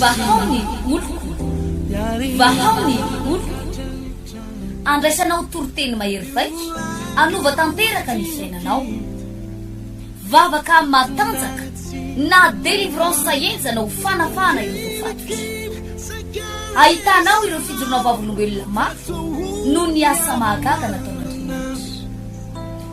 Vahao ny oloko, vahao ny oloko, andraisanao toriteny mahery vaika, hanova tanteraka ny fiainanao. Vavaka matanjaka na délivrance henjana ho fanafahana ireo voafatotra. Ahitanao ireo fijoroana vavolombelona mafy noho ny asa mahagaga nataon'Andriamanitra.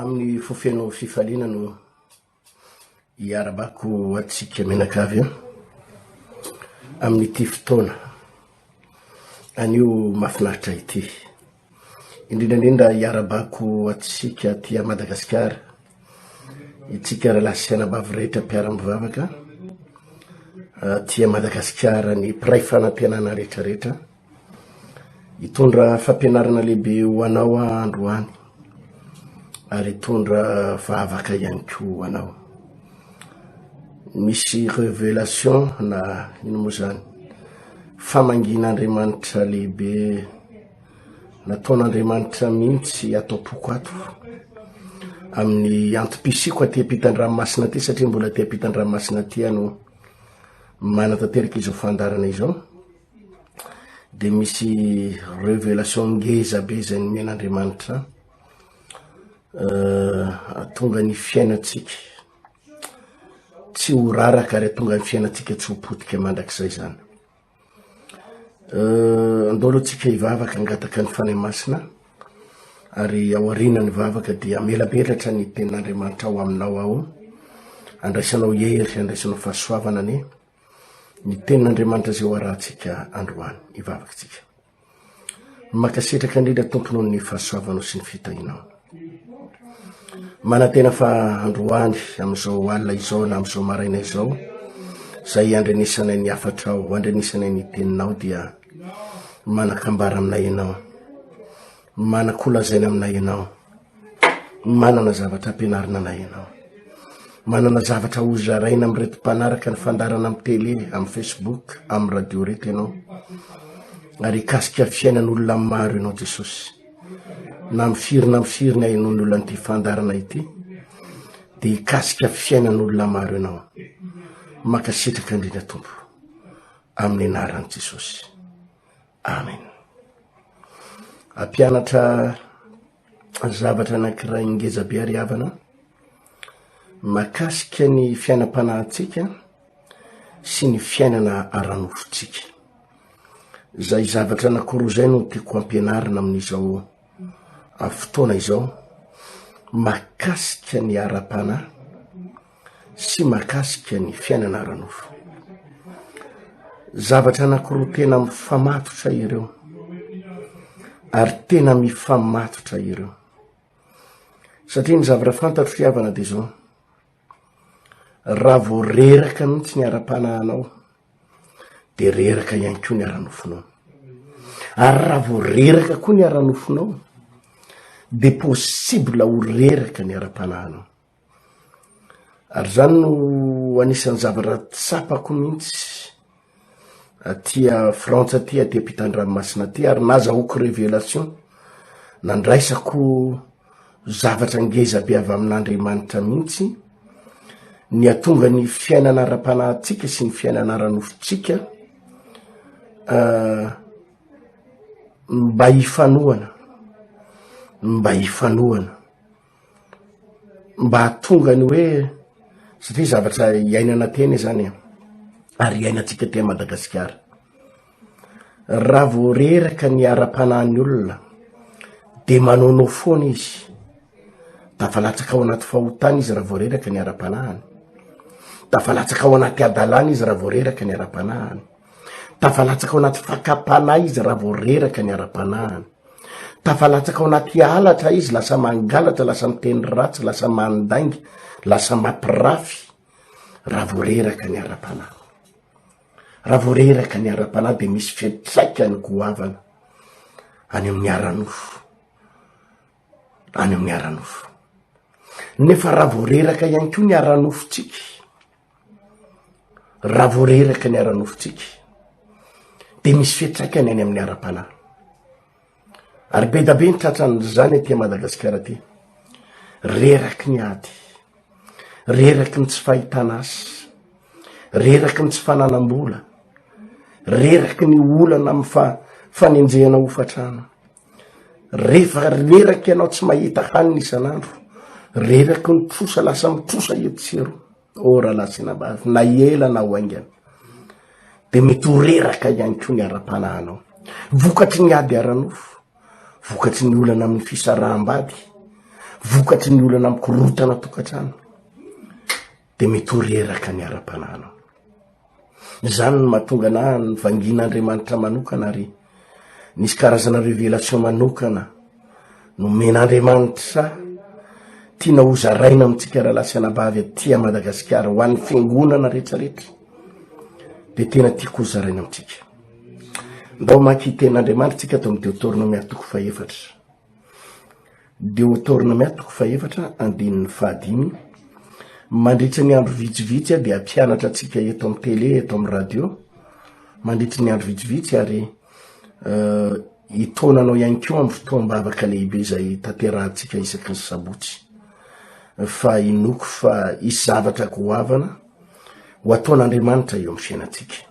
Amin'ny fo feno fifaliana no iarabako antsika mianakavy an! Amin'ity fotoana anio mahafinaritra ity. Indrindra indrindra iarabako antsika aty Madagasikara, itsika rahalahy sy anabavy rehetra mpiara-mivavaka aty Madagasikara, ny mpiray fanantenana rehetra rehetra. Hitondra fampianarana lehibe ho anao aho androany, ary hitondra vavaka ihany koa ho anao. Misy révélation na ino moa izany, famangian'Andriamanitra lehibe nataon'Andriamanitra mihitsy ato am-poko ato, amin'ny antom-pisiako aty am-pitan-dranomasina aty satria mbola aty am-pitan-dranomasina aty aho no manatanteraka izao fandaharana izao. dia misy revelation ngeza be izay nomen' Andriamanitra ahatonga ny fiainantsika tsy ho raraka ary atonga ny fiainantsika tsy ho potika mandrakizay zany andao aloha tsika hivavaka angataka ny fanahy masina ary aoriana ny vavaka dia melaberatra ny tenin'Andriamanitra ao aminao ao andraisanao hery andraisanao fahasoavana anie ny tenin'Andriamanitra izay ho arahantsika androany, ny vavakintsika. Makasitraka indrindra Tompo noho ny fahasoavanao sy ny fitahinao. Manantena fa androany amin'izao alina izao na amin'izao maraina izao, izay andrenesanay ny hafatrao, andrenesanay ny teninao dia manakambara aminay ianao, manakolazaina aminay ianao. Manana zavatra ampianarina anay ianao. Manana zavatra hozaraina amin'ireto mpanaraka ny fandaharana amin'ny tele, amin'ny Facebook, amin'ny radio ireto ianao. Ary hikasika ny fiainan'olona maro ianao Jesosy. Na amin'ny firy na amin'ny firy ny ahenoan'ny olona an'ity fandaharana ity dia hikasika ny fiainan'olona maro ianao. Mankasitraka indrindra Tompo. Amin'ny anaran'i Jesosy. Amen. Ampianatra zavatra anankiray ngeza be ary havana makasika ny fiainam-panahintsika sy ny fiainana ara-nofontsika. Izay zavatra anankiroa izay no tiako ampianarina amin'izao fotoana izao makasika ny ara-panahy sy mahakasika ny fiainana ara-nofo. Zavatra anankiroa tena mifamatotra ireo ary tena mifamatotra ireo. Satria ny zavatra fantatro ry havana dia izao, raha vao reraka mihitsy ny ara-panahinao dia reraka ihany koa ny ara-nofonao. Ary raha vao reraka koa ny ara-nofonao dia possible ho reraka ny ara-panahinao. Ary izany no anisan'ny zavatra tsapako mihitsy aty Frantsa aty, aty am-pitan-dranomasina aty, ary nazahoako révélation, nandraisako zavatra ngeza be avy amin'Andriamanitra mihitsy, ny hahatonga ny fiainana ara-panahintsika sy ny fiainana ara-nofontsika mba hifanohana, mba hifanohana. mba hahatonga ny hoe satria zavatra iainana tena izany e, ary iainantsika teny Madagasikara. Raha vao reraka ny ara-panahin'ny olona dia manaonao foana izy, tafalatsaka ao anaty fahotana izy raha vao reraka ny ara-panahiny, tafalatsaka ao anaty hadalana izy raha vao reraka ny ara-panahiny. Tafalatsaka ao anaty fakam-panahy izy raha vao reraka ny ara-panahiny. Tafalatsaka ao anaty halatra izy, lasa mangalatra, lasa miteny ratsy, lasa mandainga, lasa mampirafy raha vao reraka ny ara-panahy. Raha vao reraka ny ara-panahy de misy fiantraikany goavana any amin'ny ara-nofo, any amin'ny ara-nofo. Nefa raha vao reraka ihany koa ny ara-nofontsika, Raha vao reraka ny ara-nofontsika dia misy fiantraikany any amin'ny ara-panahy. Ary be da be ny tratran'izany aty Madagasikara aty. Reraky ny ady, reraky ny tsy fahitana asa, reraky ny tsy fananam-bola, reraky ny olana amin'ny fa- fanenjehana hofantrano. Rehefa reraka ianao tsy mahita hanina isan'andro, reraky ny trosa, lasa mitrosa etsy sy eroa, oh rahalahy sy anabavy, na ela na ho haingana, dia mety ho reraka ihany koa ny ara-panahinao, vokatry ny ady ara-nofo, vokatry ny olana amin'ny fisaraham-bady, vokatry ny olana amin'ny korontana tokantrano. dia mitory eraka ny ara-panahinao. Izany no mahatonga anahy nivangian'Andriamanitra manokana ary nisy karazana révélation manokana nomen'Andriamanitra tiana hozaraina amintsika rahalahy sy anabavy aty à Madagasikara ho an'ny fiangonana rehetrarehetra dia tena tiako hozaraina amintsika. Ndao maki tenin'Andriamanitra tsika ato amin'ny Deuteronome atoko fahefatra. Deotornmia toko fahefatra andininy fahadimy, Mandritry ny andro vitsivitsy aho dia hampianatra antsika eto amin'ny tele, eto amin'ny radio, mandritry ny andro vitsivitsy ary hitaona anao ihany koa amin'ny fotoam-bavaka lehibe izay tanterahantsika isaky ny sabotsy. Fa inoako fa hisy zavatra goavana ho ataon'Andriamanitra eo amin'ny fiainantsika.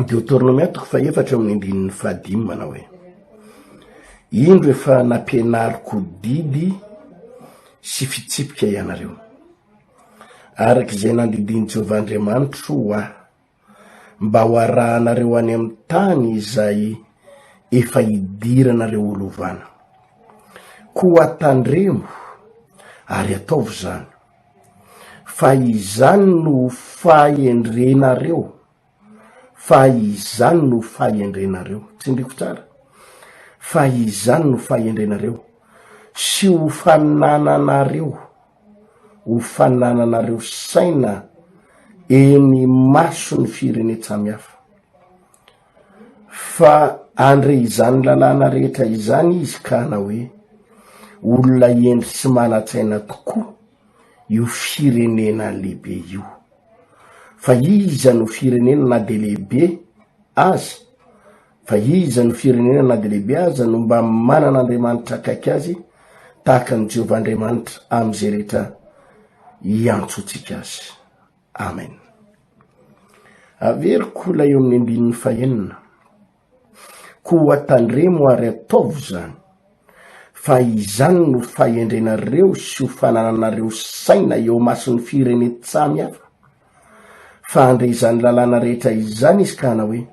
Deoteronomia toko fahefatra amin'ny andininy fahadimy manao hoe, Indro efa nampianariko didy sy fitsipika ianareo, araka izay nandidian'i Jehovah Andriamanitro ho ahy, mba ho arahanareo any amin'ny tany izay efa idiranareo ho lovana. Koa tandremo ary ataovy izany. Fa izany no fahendrenareo, fa izany no fahendrenareo. Tsindriako tsara, fa izany no fahendrenareo, sy ho fanananareo, ho fanananareo saina eny imason'ny firenen-tsamihafa. fa handre izany lalàna rehetra izany izy ka hanao hoe, Olona hendry sy manan-tsaina tokoa io firenena lehibe io. Fa iza no firenena na dia lehibe aza, fa iza no firenena na dia lehibe aza no mba manana Andriamanitra akaiky azy tahaka an'i Jehovah Andriamanitra amin'izay rehetra iantsoantsika azy? Amen. Averiko ilay eo amin'ny andininy fahenina. Koa tandremo ary ataovo izany, fa izany no fahendrenareo sy ho fanananareo saina eo masin'ny firenen-tsamy hafa. Fa handre izany lalàna rehetra izany izy ka hanao hoe,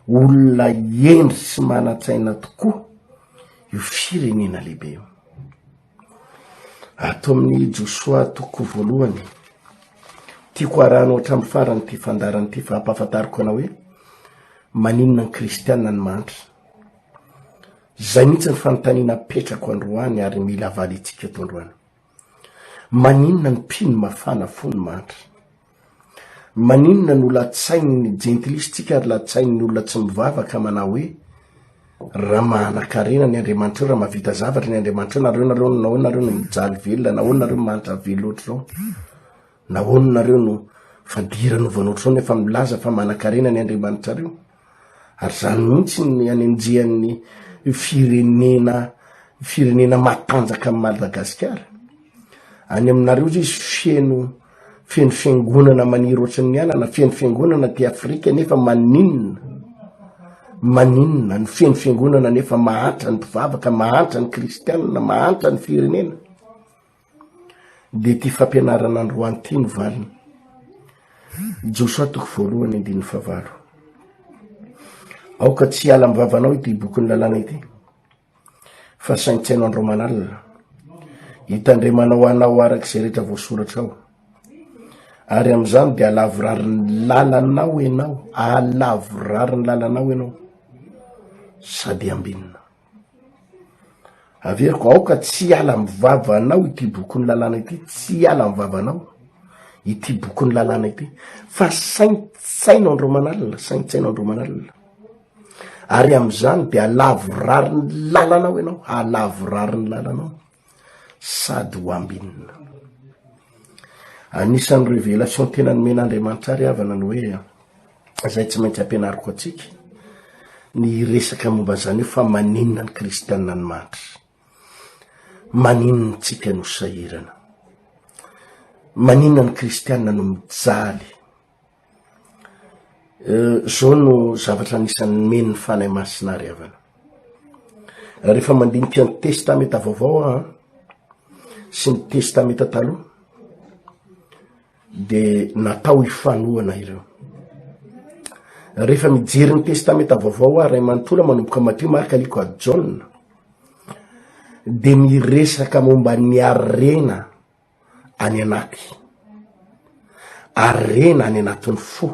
Olona hendry sy manan-tsaina tokoa io firenena lehibe io. Ato amin'ny Josoa toko voalohany, tiako harahana hatramin'ny farany ity fandaharana ity fa hampahafantariko anao hoe maninona ny kristiana no mahantra. Izay mihitsy ny fanontaniana apetrako androany ary mila valiantsika eto androany. Maninona ny mpino mafana fo no mahantra? Maninona no latsain'ny jentilisa tsika ary latsain'ny olona tsy mivavaka manao hoe ra manakarena ny Andriamanitreo ra mavita zavatra ny Andriamanitreo nareo nareo nahoana nareo no mijaly velona nahoana nareo no mahantra velona ohatr'izao nahoana nareo no fadirana ovana ohatr'izao nefa milaza fa manakarena ny Andriamanitrareo ary izany mihitsy ny anenjehan'ny firenena firenena matanjaka amin'i Madagasikara. Any aminareo izy feno feno fiangonana maniry ohatran'ny ny anana, feno fiangonana aty Afrika nefa maninona? Maninona ny feno fiangonana nefa mahantra ny mpivavaka, mahantra ny kristianina, mahantra ny firenena? dia ity fampianarana androany ity no valiny. Josoa toko voalohany andininy favalo. Aoka tsy hiala amin'ny vavanao ity bokin'ny lalàna ity, fa saintsaino andro aman'alina, hitandremanao anao araka izay rehetra voasoratra ao. Ary amin'izany dia alavorariny lalanao ianao, alavorariny lalanao ianao, sady ambinina. Averiko, aoka tsy hiala amin'ny vavanao ity bokin'ny lalàna ity, tsy hiala amin'ny vavanao ity bokin'ny lalàna ity, fa saintsaino andro aman' alina, saintsaino andro aman' alina, ary amin'izany dia halavorary ny lalanao ianao, halavorary ny lalanao. sady ho ambinina. Anisan'ny révélation tena nomen'Andriamanitra ary havana ny hoe izay tsy maintsy ampianariko antsika ny resaka momba izany io fa maninona ny kristianina ny mandry maninona tsika no sahirana maninona ny kristianina no mijaly Zao no zavatra anisan'ny nomeny ny Fanahy Masina ary havana. Rehefa mandinika ny Testamenta Vaovao aho sy ny Testamenta Taloha de natao hifanohana ireo. Rehefa mijery ny Testamenta Vaovao aho, Ray manontolo aho manomboka Matio, Marka, Lioka, Jaona, de miresaka momba ny harena any anaty ary rena any anatin'ny fo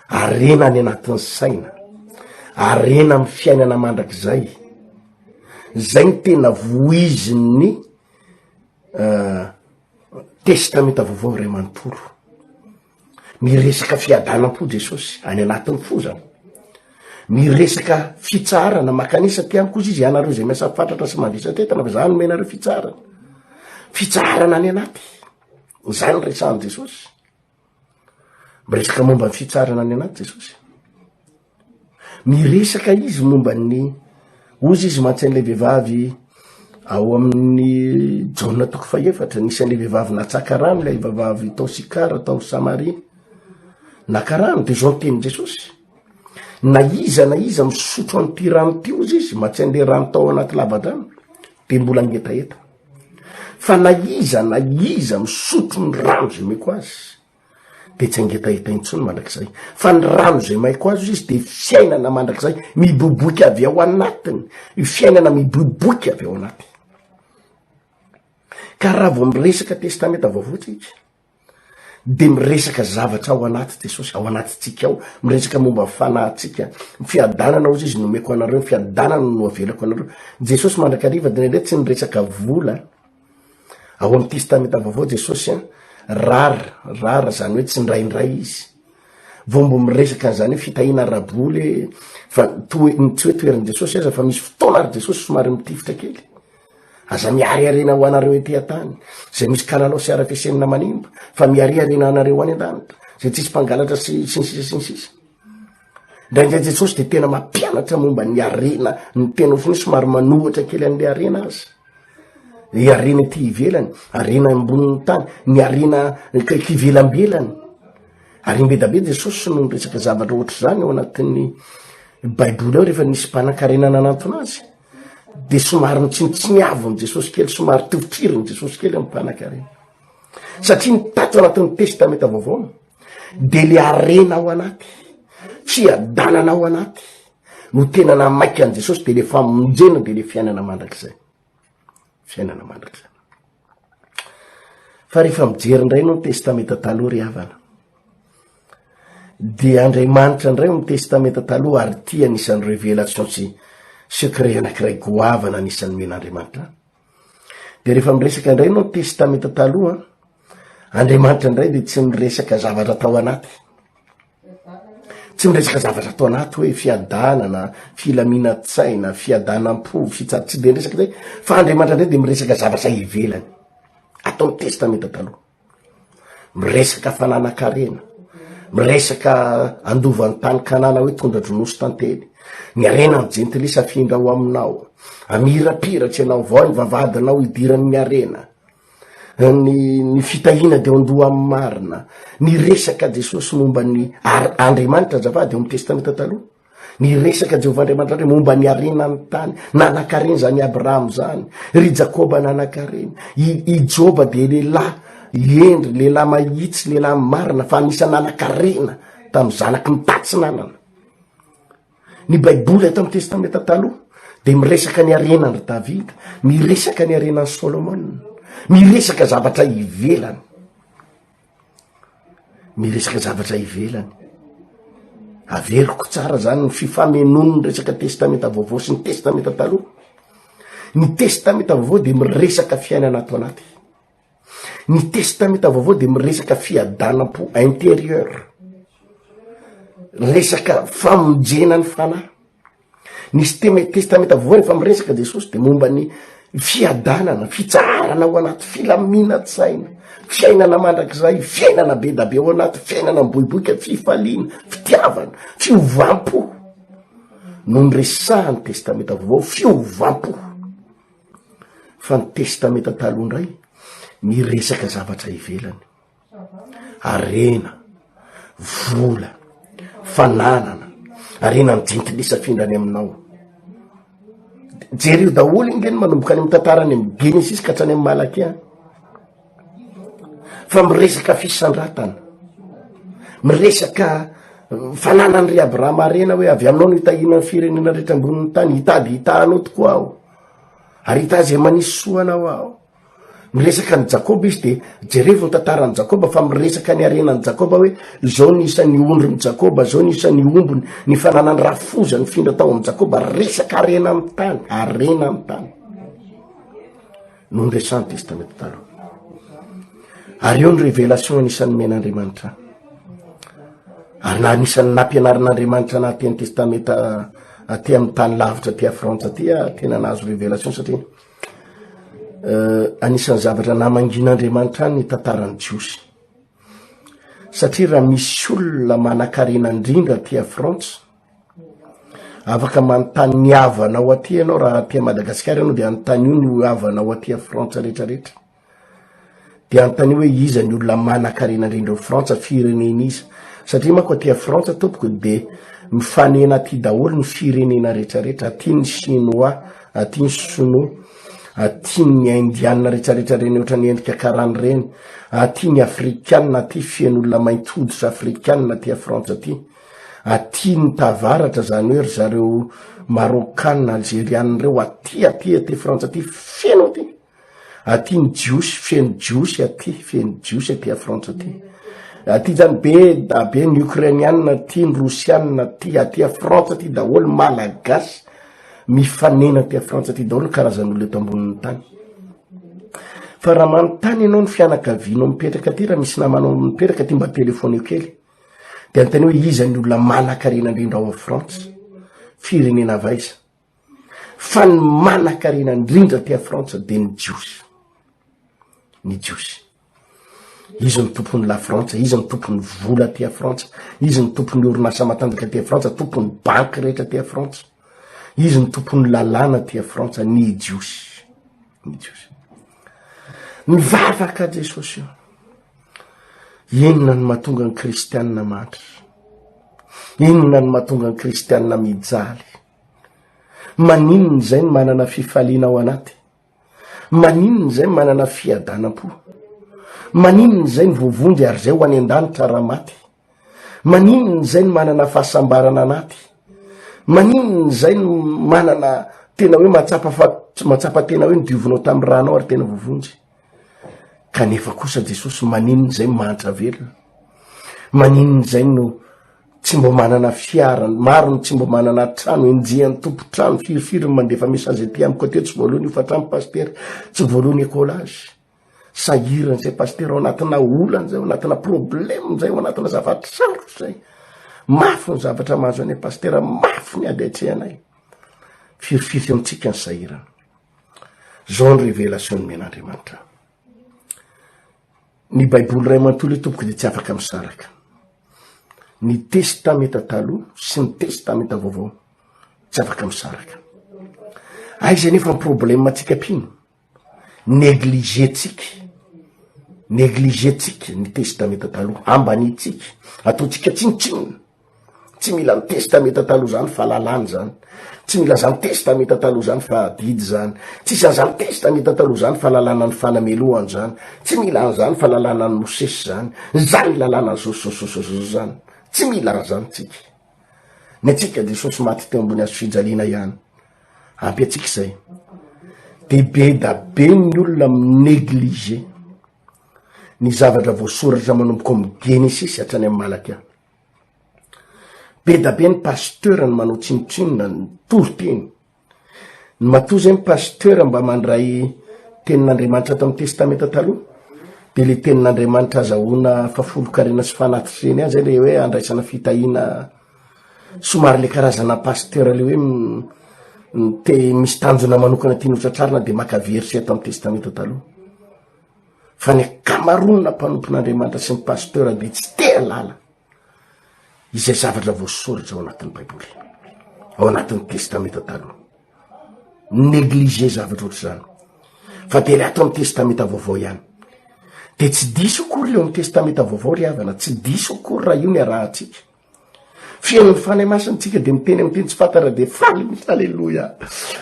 ary rena any anatin'ny saina ary rena ami'ny fiainana mandrak'izay zay ny tena voizin'ny eh, testamenta vaovao ray manontolo Miresaka fiadanam-po Jesosy any anatin'ny fo zany. Miresaka fitsaharana makanisa ty amiko izy izy ianareo izay miasa fatratra sy mandresa tetana fa za nomena nareo fitsaharana. Fitsaharana any anaty. Izany resahan'i Jesosy. Miresaka momba ny fitsaharana any anaty Jesosy. Miresaka izy momba ny, hozy izy mantsy an'ilay vehivavy ao amin'ny Jaona toko fahefatra, nisy an'ilay vehivavy natsaka rano, ilay vehivavy tao Sikara tao Samaria, naka rano, dia izao ny tenin'i Jesosy, na iza na iza misotro an'ity rano ity, hozy izy, mantsy an'ilay rano tao anaty lavadrano, dia mbola mihetaheta, fa na iza na iza misotro ny rano izay omeko azy, dia tsy hangetaheta intsony mandrakizay fa ny rano izay maiko azo izy dia fiainana mandrakizay miboboika avy ao anatiny y fiainana miboboika avy ao anaty ka raha vao miresaka testamenta vaovoantsika de miresaka zavatra ao anaty jesosy ao anatytsika ao miresaka momba fanahytsika fiadanana ozy izy nomeko anareo fiadanana no avelako anareo jesosy mandrakariva dnre tsy nyresaka vola Ao amin'ny Testamenta Vaovao Jesosy rar, rar zany hoe tsindraindray izy vao mbo miresaka an'izany hoe fitahiana ara-boly fa toe, tsy hoe toerin'i Jesosy aza fa misy fotoana ary Jesosy somary mitifitra kely aza miariarena ho anareo ety an-tany zay misy kalalao sy arafesenina manimba fa miariarena anareo any an-danitra zay tsisy mpangalatra sy sy ny sisa sy ny sisa Indraindray Jesosy de tena mampianatra momba ny harena ny tena ohatry ny hoe somary manohitra kely an'le harena aza, ny harena ety ivelany, harena ambonin'ny tany, ny harena kaiky ivelambelany, ary mbeda be Jesosy no niresaka zavatra ohatry zany ao anatin'ny baiboly ao rehefa nisy mpanankarena nanantona azy, de somary nitsinotsiniaviny Jesosy kely, somary toritiriny Jesosy kely amy mpanakarena, satria ny tato anatin'ny testamenta vaovao. de le arena ao anaty tsy adalana ao anaty no tena na maika any jesosy de le famonjena de le fiainana mandrak'izay fiainana mandrak'zay fa rehefa mijery indray no ny testamenta taloha ry havana de andriamanitra indray o ny testamenta taloha ary tia anisan'ny revelation sy secret anakiray goavana anisan'ny men'andriamanitra De rehefa miresaka indray ianao testamenta taloha, Andriamanitra indray de tsy miresaka zavatra tao anaty. Tsy miresaka zavatra tao anaty hoe fiadanana, filaminatsaina, fiadanam-po, fitsa- tsy de miresaka zay fa Andriamanitra indray de miresaka zavatra ivelany atao ny testamenta taloha. Miresaka fananan-karena, miresaka andovan'ny tany Kanana hoe tondra-dronosy tantely. Ny harena ny jentilisa afindra ao aminao. Amirapiratra ianao vao ny vavadinao idiran'ny harena. Ny, ny fitahiana dia ondoha amin'ny marina. Ny resaka Jesosy momba ny Andriamanitra azafady ao amin'ny Testamenta Taloha. ny resaka jehovah andriamanitra ndray momba ny arena ny tany nanakareny zany abraham zany ry jakoba nanakareny i joba de lehilahy endry lehilahy mahitsy lehilahy marina fa anisa nanakarena tamy zanaky ny tatsinanana ny baiboly ato amy testamenta taloha de miresaka ny arena ndry davida miresaka ny arenany solomona miresaka zavatra ivelany Miresaka zavatra ivelany. Averiko tsara zany ny fifamenoany ny resaka testamenta vaovao sy ny testamenta taloha. Ny testamenta vaovao de miresaka fiainana ato anaty. Ny testamenta vaovao de miresaka fiadanam-po intérieur. Resaka famonjena ny fanahy. Ny siteme testamenta voa rehefa miresaka jesosy de momba ny fiadanana fitsaharana ao anaty filaminatsaina fiainana mandrakizay fiainana be dabe ao anaty fiainana mboiboika fifaliana fitiavana fiovam-po no ny resahany testamenta voa fiovam-po fa ny testamenta taloha indray ny resaka zavatra ivelany harena, vola, fananana, harena ny jentilesafindra any aminao jereo daholo iny reny manomboka any am tantara any am genesis ka tsany am malaky any fa miresaka fisandratana miresaka uh, fananany ry abrahama arena hoe avy aminao no hitahina ny firenena rehetra ambonin'ny tany hitady hitahanao tokoa aho ary hitaha zay manisy soanao aho Miresaka an'i Jakoba izy dia jerevo ny tantaran'i Jakoba fa miresaka ny harenan'i Jakoba hoe izao ny isan'ny ondrin'i Jakoba, izao ny isan'ny ombony, ny fananany rafoza nifindra tao amin'i Jakoba, resaka harena amin'ny tany, harena amin'ny tany. No niresahan'ny Testamenta Taloha. Ary eo ny revelation anisan'ny men'Andriamanitra. Ary na anisan'ny nampianarin'Andriamanitra na teny testamenta aty amin'ny tany lavitra aty a Frantsa aty a tena nahazo revelation satria Anisan'ny zavatra namangian'Andriamanitra ny tantaran'ny Jiosy. Satria raha misy olona manan-karena indrindra aty Frantsa, afaka manontany ny havanao aty ianao raha aty Madagasikara ianao dia anontanio ny havanao aty Frantsa rehetrarehetra. Dia anontanio hoe iza ny olona manankarena indrindra ao Frantsa, firenen'iza? Satria manko aty a Frantsa tompoko dia mifanena aty daholo ny firenena rehetrarehetra, aty ny Chinois, aty ny Sinoa, aty ny Indiana rehetrarehetra ireny ohatran'ny endrika karana ireny, aty ny Afrikana, aty feno olona mainty hoditra Afrikana aty a Frantsa aty, aty ny tavaratra izany hoe ry zareo Marokana, Alzeriana ireo, aty aty aty Frantsa aty feno aty. Aty ny jiosy, feno jiosy aty, feno jiosy aty a Frantsa aty. Aty zany be da be ny Ukrainianina aty, ny Rosianina aty, aty a Frantsa aty daholo ny Malagasy mifanena aty a Frantsa aty daholo ny karazan'olo eto ambonin'ny tany. Fa raha manontany ianao ny fianakavianao mipetraka aty, raha misy namanao mipetraka aty mba telefoneo kely. De anontanio hoe iza ny olona manan-karena indrindra ao a Frantsa? Firenena avy aiza? Fa ny manan-karena indrindra aty Frantsa dia ny Jiosy. Ny Jiosy. Izy ny tompon'ny La Frantsa, izy ny tompon'ny vola aty Frantsa, izy ny tompon'ny orinasa matanjaka aty Frantsa, tompon'ny banky rehetra aty Frantsa. Izy ny tompon'ny lalàna aty Frantsa, ny Jiosy. Ny Jiosy. Mivavaka Jesosy io. Inona ny mahatonga ny kristianina mandry? Inona ny mahatonga ny kristianina mijaly? Maninona izay ny manana fifaliana ao anaty? Maninona izay ny manana fiadanam-po? Maninona izay ny voavonjy ary izay ho any an-danitra raha maty? Maninona izay ny manana fahasambarana anaty? Maninona izay ny manana tena hoe mahatsapa fa mahatsapa tena hoe nodiovinao tamin'ny ranao ary tena voavonjy? Kanefa kosa Jesosy maninona izay mahantra velona? Maninona izay no tsy mba manana fiara, maro no tsy mba manana trano, enjehan'ny tompo trano, firifiry no mandefa message aty amiko aty, tsy voalohany io fa trano pasitera, tsy voalohany écolage. Sahirana izay pasitera ao anatina olana izay, ao anatina problème izay, ao anatina zavatra sarotra izay. Mafy ny zavatra mahazo anay pasitera, mafy ny ady atrehanay. Firifiry amintsika ny sahirana. Zao ny revelation nomen'Andriamanitra. Ny baiboly iray manontolo io tompoko dia tsy afaka misaraka. Ny testamenta taloha sy ny testamenta vaovao tsy afaka misaraka. Aiza nefa ny problema antsika mpino? Negligentsika. Negligentsika ny testamenta taloha. Ambanitsika. Ataontsika tsinontsinona. tsy mila ny testameta taloha zany fa lalàny zany tsy mila zany testameta taloha zany fa adidy zany tsisy an'zany testameta taloha zany fa lalàna ny fanamelohany zany tsy mila an'zany fa lalàna ny mosesy zany zany lalàna ny zosososososososy zany tsy mila an'zany tsika ny atsika jesosy maty teo ambony azo fijaliana ihany ampy atsika izay de be da be ny olona minegliger ny zavatra voasoratra manomboka amiy genesisy hatrany amy malaka Bedabe ny pasteur ny manao tsinontsinona ny toriteny. Ny matoa zay ny pasteur mba mandray tenin'Andriamanitra tamin'ny testamenta taloha de le tenin'Andriamanitra azahoana fafolonkarena sy fanatitreany any zay le hoe andraisana fitahiana somary le karazana pasteur le hoe te misy tanjona manokana tiany hotratrarina de maka verset tamin'ny testamenta taloha. fa ny akamaronona mpanompon'andriamanitra sy ny pasteur de tsy te alala izay zavatra voasoratra ao anatin'ny baiboly ao anatin'ny testamenta taloha neglige zavatra ohatra zany fa de le ato am'ny testamenta vaovao ihany de tsy diso akory eo am'ny testamenta vaovao ry havana tsy diso akory raha io ny arahantsika Fihainon'ny Fanahy Masina tsika dia miteny amin'ny teny tsy fantatra dia faly mihitsy. Aleloia.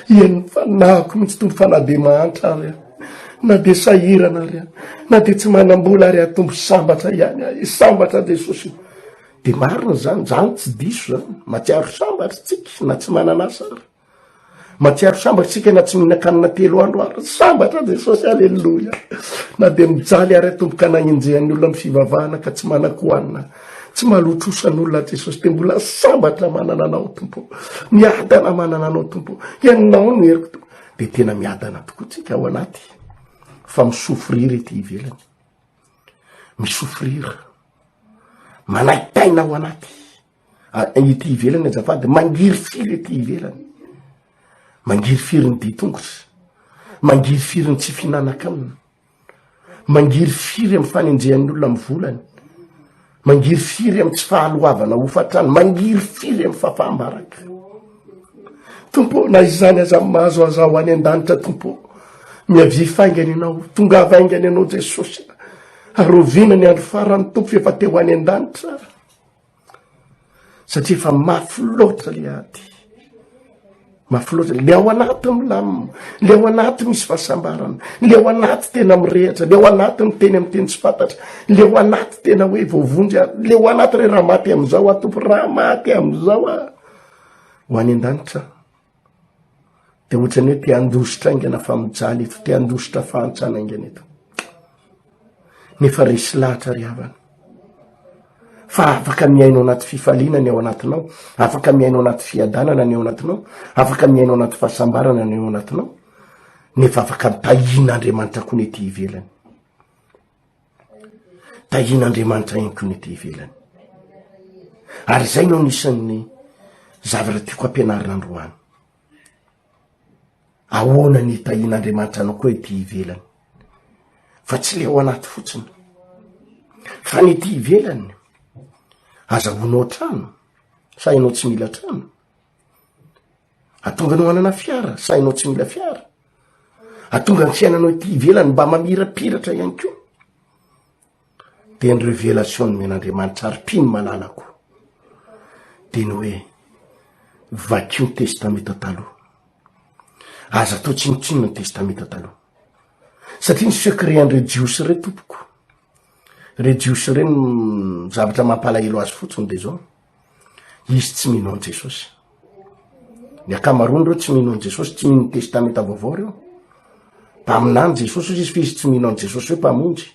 Hihainon'ny fanahiko mihitsy tompo fa na dia mahantra ary aho na dia sahirana ary na dia tsy manam-bola ary atombo sambatra ihany ahy sambatra jesosy dia marina zany zany tsy diso zany matsiaro sambatra tsika na tsy manana asa ary Matsiaro sambatra isika na tsy mihinan-kanina telo andro ary sambatra Jesosy aleloia na dia mijaly ary atomboka anagnenjehan'ny olona amin'ny fivavahana ka tsy manan-kohanina tsy malotrosan'olona Jesosy dia mbola sambatra manana anao tompo miadana manana anao tompo ianao no heriko tompo dia tena miadana tokoa tsika ao anaty fa misofrira ety ivelany misofrira manaitaina ao anaty ety ivelany azafady, mangirifiry ety ivelany, mangirifiry ny dian-tongotra, mangirifiry ny tsy fihinanan-kanina, mangirifiry amin'ny fanenjehan'ny olona amin'ny volany, mangirifiry amin'ny tsy fahaloavana hofantrany, mangirifiry amin'ny fahafaham-baraka. Tompo ô, na izany aza amin'ny mahazo aza ho any an-danitra Tompo ô, miavia faingana ianao, tongava haingana ianao Jesosy, arovina ny andro farany Tompo fa efa te ho any an-danitra. satria efa mafy loatra le aty mafy loatra le ao anaty milamina le ao anaty misy fahasambarana le ao anaty tena mirehatra le ao anaty ny teny am'teny tsy fantatra le ao anaty tena hoe voavonjy a le ao anaty re raha maty am'izao a tompo raha maty am'izao a ho any an-danitra Dia ohatrany hoe te handositra aingana fa mijaly eto, te handositra fahantsana aingana eto. Nefa resy lahatra ry havana. Fa afaka mihaino anaty fifaliana ny ao anatinao, afaka mihaino anaty fiadanana ny ao anatinao, afaka mihaino anaty fahasambarana ny ao anatinao, nefa afaka mitahian'Andriamanitra koa ny ety ivelany. Tahian'Andriamanitra ihany koa ny ety ivelany. Ary izay no anisan'ny zavatra tiako hampianarina androany. Ahoana ny tahian'Andriamanitra anao koa ety ivelany. Fa tsy le ao anaty fotsiny. Fa ny ety ivelany, azahoanao trano, sa ianao tsy mila trano? Atonga anao hanana fiara, sahinao tsy mila fiara. Atonga ny fiainanao ety ivelany mba mamirapiratra ihany koa. Dia ny revelation nomen'Andriamanitra ary mpino malalako dia ny hoe vakio ny testamenta taloha. Aza atao tsinontsinona ny testamenta taloha. Satria ny secret an'ireo jiosy ireo tompoko, ireo jiosy ireo ny zavatra mampalahelo azy fotsiny dia zao. Izy tsy mino an'i Jesosy. Ny ankamaroan'ireo tsy mino an'i Jesosy, tsy mino ny Testamenta Vaovao ireo. Mpaminany Jesosy izy fa izy tsy mino an'i Jesosy hoe mpamonjy.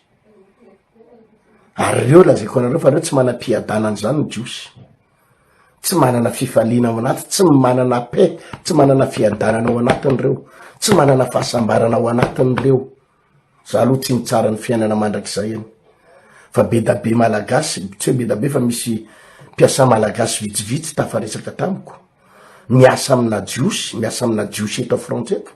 Ary ireo lazaiko anareo fa ireo tsy manam-piadanana izany ny Jiosy. Tsy manana fifaliana ao anaty, tsy manana paix, tsy manana fiadanana ao anatin'ireo, tsy manana fahasambarana ao anatin'ireo. Za aloha tsy mitsara ny fiainana mandrakizay an! Fa bedabe malagasy, tsy hoe bedabe fa misy mpiasa malagasy vitsivitsy tafaresaka tamiko, miasa amina jiosy, miasa amina jiosy eto frantsa eto,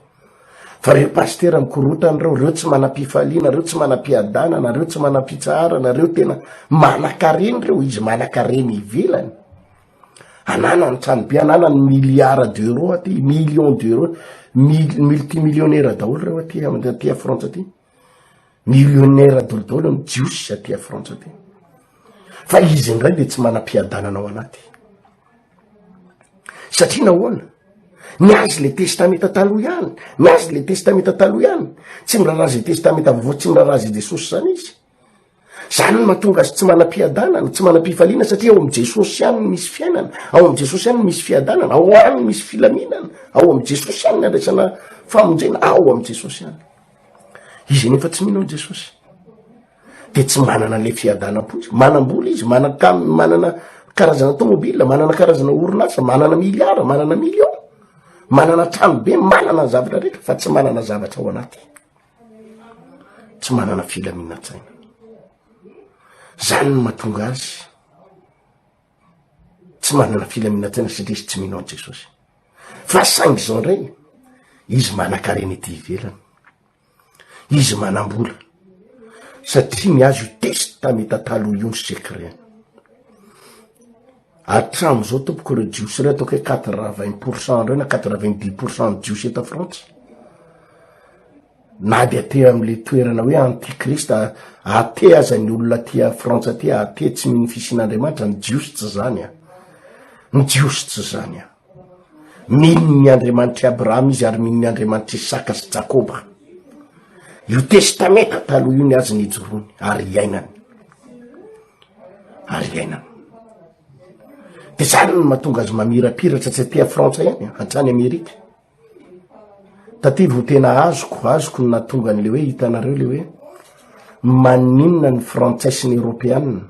fa reo pasitera mikorotana reo, reo tsy manam-pifaliana, reo tsy manam-piadanana, reo tsy manam-pitsaharana, reo tena manankareny reo, izy manankareny ivelany. ananany trano be ananany milliard d'euro aty million d'euro mil- multi millionnaire daholo reo aty am- aty a frantsa aty millionnaire dolo daholo ny jiosy aty a frantsa aty fa izy indray de tsy manam-piadanana ao anaty satria nahoana ny azy le testamenta taloha ihany ny azy le testamenta taloha ihany tsy miraharaha ze testamenta vaovao tsy miraharaha ze jesosy zany izy Izany no mahatonga azy tsy manam-piadanana, tsy manam-pifaliana satria ao amin'i Jesosy ihany no misy fiainana, ao amin'i Jesosy ihany no misy fiadanana, ao aminy no misy filaminana, ao amin'i Jesosy ihany ny andraisana famonjena, ao amin'i Jesosy ihany. Izy anefa tsy mino an'i Jesosy dia tsy manana an'ilay fiadanam-po izy. Manam-bola izy, manan-kam- manana karazana tômôbila, manana karazana orinasa, manana miliara, manana miliaona, manana trano be, manana ny zavatra rehetra fa tsy manana zavatra ao anaty. tsy manana filaminantsaina zany no mahatonga azy tsy manana filaminantsaina satria izy tsy mino any jesosy fa saingy zao ndray izy manan-karena ity ivelany izy manam-bola satria ny azy io testa mitatalo io ny secret Hatramin'izao tompoko ireo jiosy ireo ataoko hoe quatre-vingts pour cent ireo na quatre-vingt-dix pour cent ny jiosy eto Frantsa. Na dia aty amin'ilay toerana hoe antikrist aty aza ny olona aty Frantsa aty aty tsy mino fisian'Andriamanitra ny jiosy tsy izany an. Ny jiosy tsy izany an. Mino ny Andriamanitr'i Abrahama izy ary mino ny Andriamanitr'i Isaka sy Jakoba. Io testamenta taloha io ny azy nijoroany ary iainany. Ary iainany. Dia zany no mahatonga azy mamirapiratra tsy aty Frantsa ihany, hatrany Amerika. Tadidy ho tena azoko, azoko ny nahatonga an'le hoe hitanareo le hoe maninona ny frantsay sy ny eropeana,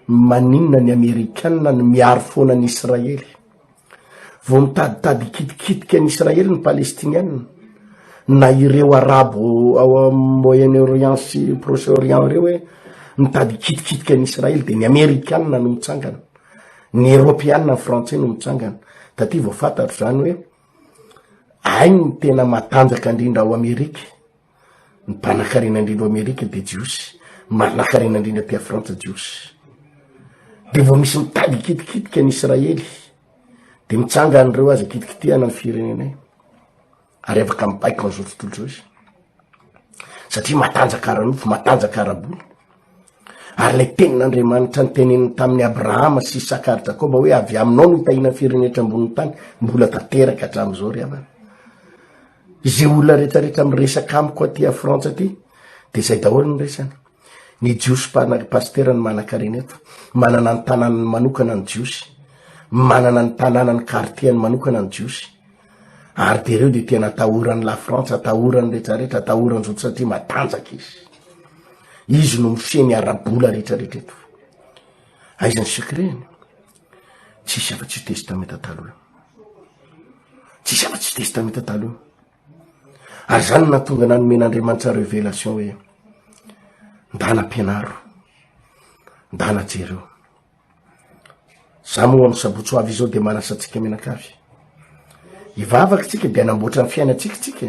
maninona ny amerikana no miaro foana an'i Israely. Vao mitaditady hikitikitika an'i Israely ny Palestiniana na ireo arabo ao amin'ny Moyen Orient sy Proche Orient ireo hoe mitady hikitikitika an'i Israely dia ny amerikana no mitsangana. Ny eropeanina frantsay no mitsangana. Taty vao fantatro zany hoe ainy ny tena matanjaka indrindra ao Amerika, ny mpanakarena indrindra ao Amerika de jiosy, manakarena indrindra aty Frantsa jiosy. De vao misy mitady kitikitika ny Israely de mitsanga an'ireo aza kitikitihana ny firenenay. ary afaka mipaika ao an'izao tontolo izao izy satria matanjaka ara-nofo matanjaka ara-bola ary lay tenin'andriamanitra ny teneniny tamin'ny abrahama sy isaka ary jakoba hoe avy aminao no hitahina firenetra amboniny tany mbola tanteraka hatramin'izao ry havana izay olona rehetrarehetra miresaka amiko aty a frantsa aty de zay daholo ny resany ny jiosy mpanaky pastera ny manan-karena eto manana ny tanànany manokana ny jiosy manana ny tanàna ny kartiany manokana ny jiosy Ary dia ireo dia tena atahoran'i Lafrantsa, atahoran'ny rehetrarehetra, atahoran'ny zoto satria matanjaka izy. Izy no mifehy ny ara-bola rehetrarehetra eto. Aiza ny secret-ny? Tsisy afa-tsy io testamenta taloha io. Tsisy afa-tsy io testamenta taloha io. Ary zany no nahatonga anah nomen'Andriamanitra révélation hoe, ndana ampianaro, ndana jereo. Za moa amin'ny sabotsy ho avy izao dia manasa antsika mianakavy. Hivavaka tsika dia hanamboatra ny fiainantsika tsika.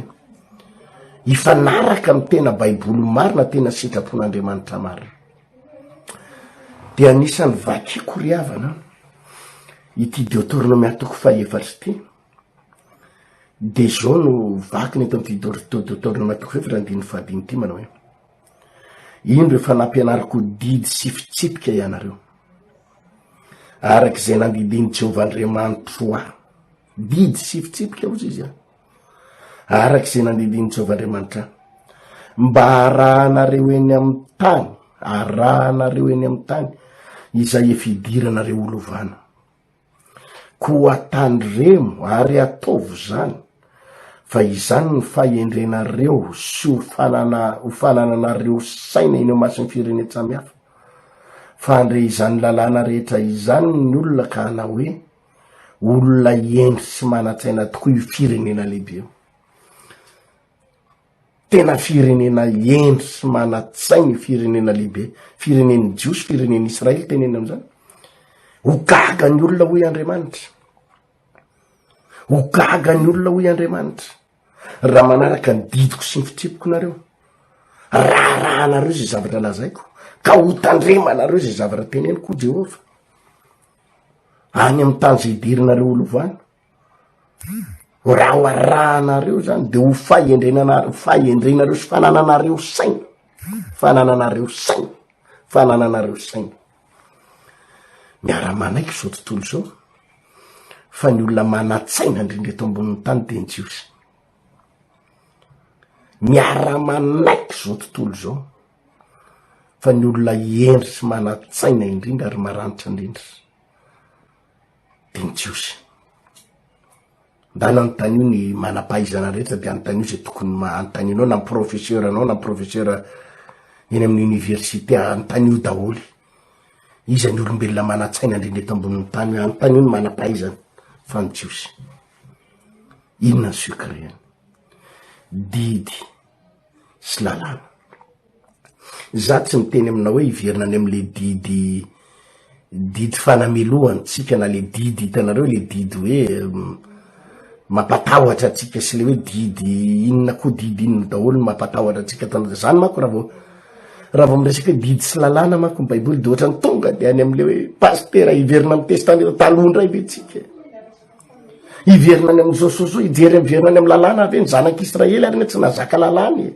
Hifanaraka amin'ny tena baiboly marina tena sitrapon'Andriamanitra marina. Dia anisan'ny vakiko ry havana ity Deuteronome atoko fahefatra ity. Dia izao no vakina eto amin'ity Deuteronome atoko fahefatra andininy fahadimy ity manao hoe. Indro efa nampianariko didy sy fitsipika ianareo, araka izay nandidian'i Jehovah Andriamanitro ahy. Didy sy fitsipika hozy izy an, araka izay nandidian'i Jehovah Andriamanitra ahy, mba harahanareo eny amin'ny tany, harahanareo eny amin'ny tany izay efa idiranareo ho lovana. Koa tandremo ary ataovo izany, fa izany no fahendrenareo sy ho ho fanananareo saina eny imason'ny firenen-tsamihafa. Fa handre izany lalàna rehetra izany ny olona ka hanao hoe, Olona hendry sy manan-tsaina tokoa io firenena lehibe io. Tena firenena hendry sy manan-tsaina io firenena lehibe, firenen'ny Jiosy, firenen'ny Israely teneniny amin'izany. Ho gaga ny olona hoy Andriamanitra. Ho gaga ny olona hoy Andriamanitra. Raha manaraka ny didiko sy ny fitriapoko nareo. Raharahanareo izay zavatra lazaiko. Ka ho tandremanareo izay zavatra teneniko hoy Jehovah. Any amin'ny tany izay hiderinareo ho lovany. Raha ho arahanareo zany de ho fahendrenana- fahendrenareo sy fanananareo saina, fanananareo saina, fanananareo saina. Miara-manaiky zao tontolo zao fa ny olona manan-tsaina ndrindra eto ambonin'ny tany de ny jiosy. Miara-manaiky zao tontolo zao fa ny olona hendry sy manan-tsaina indrindra ary maranitra ndrindra. dia ny Jiosy. Mba nanontanio ny manam-pahaizana rehetra dia anontanio izay tokony anontanio na ny professeur anao na ny professeur eny amin'ny université anontanio daholo iza ny olombelona manan-tsaina indrindra eto ambonin'ny tany hoe anontanio ny manam-pahaizana fa ny Jiosy. Inona ny secret-ny? Didy. sy lalàna. Izaho tsy miteny aminao hoe hiverina any amin'ilay didy didy fanamelohana antsika na ilay didy hitanareo ilay didy hoe mampatahotra antsika sy ilay hoe didy inona koa didy inona daholo no mampatahotra antsika tana izany manko raha vao raha vao miresaka hoe didy sy lalàna manko ny baiboly dia ohatrany tonga dia any amin'ilay hoe pasitera hiverina amin'ny testament taloha indray ve tsika e. Hiverina any amin'i Josoa, hijery miverina any amin'ny lalàna ve ny zanak'i Israely ary ny tsy nazaka lalàna e?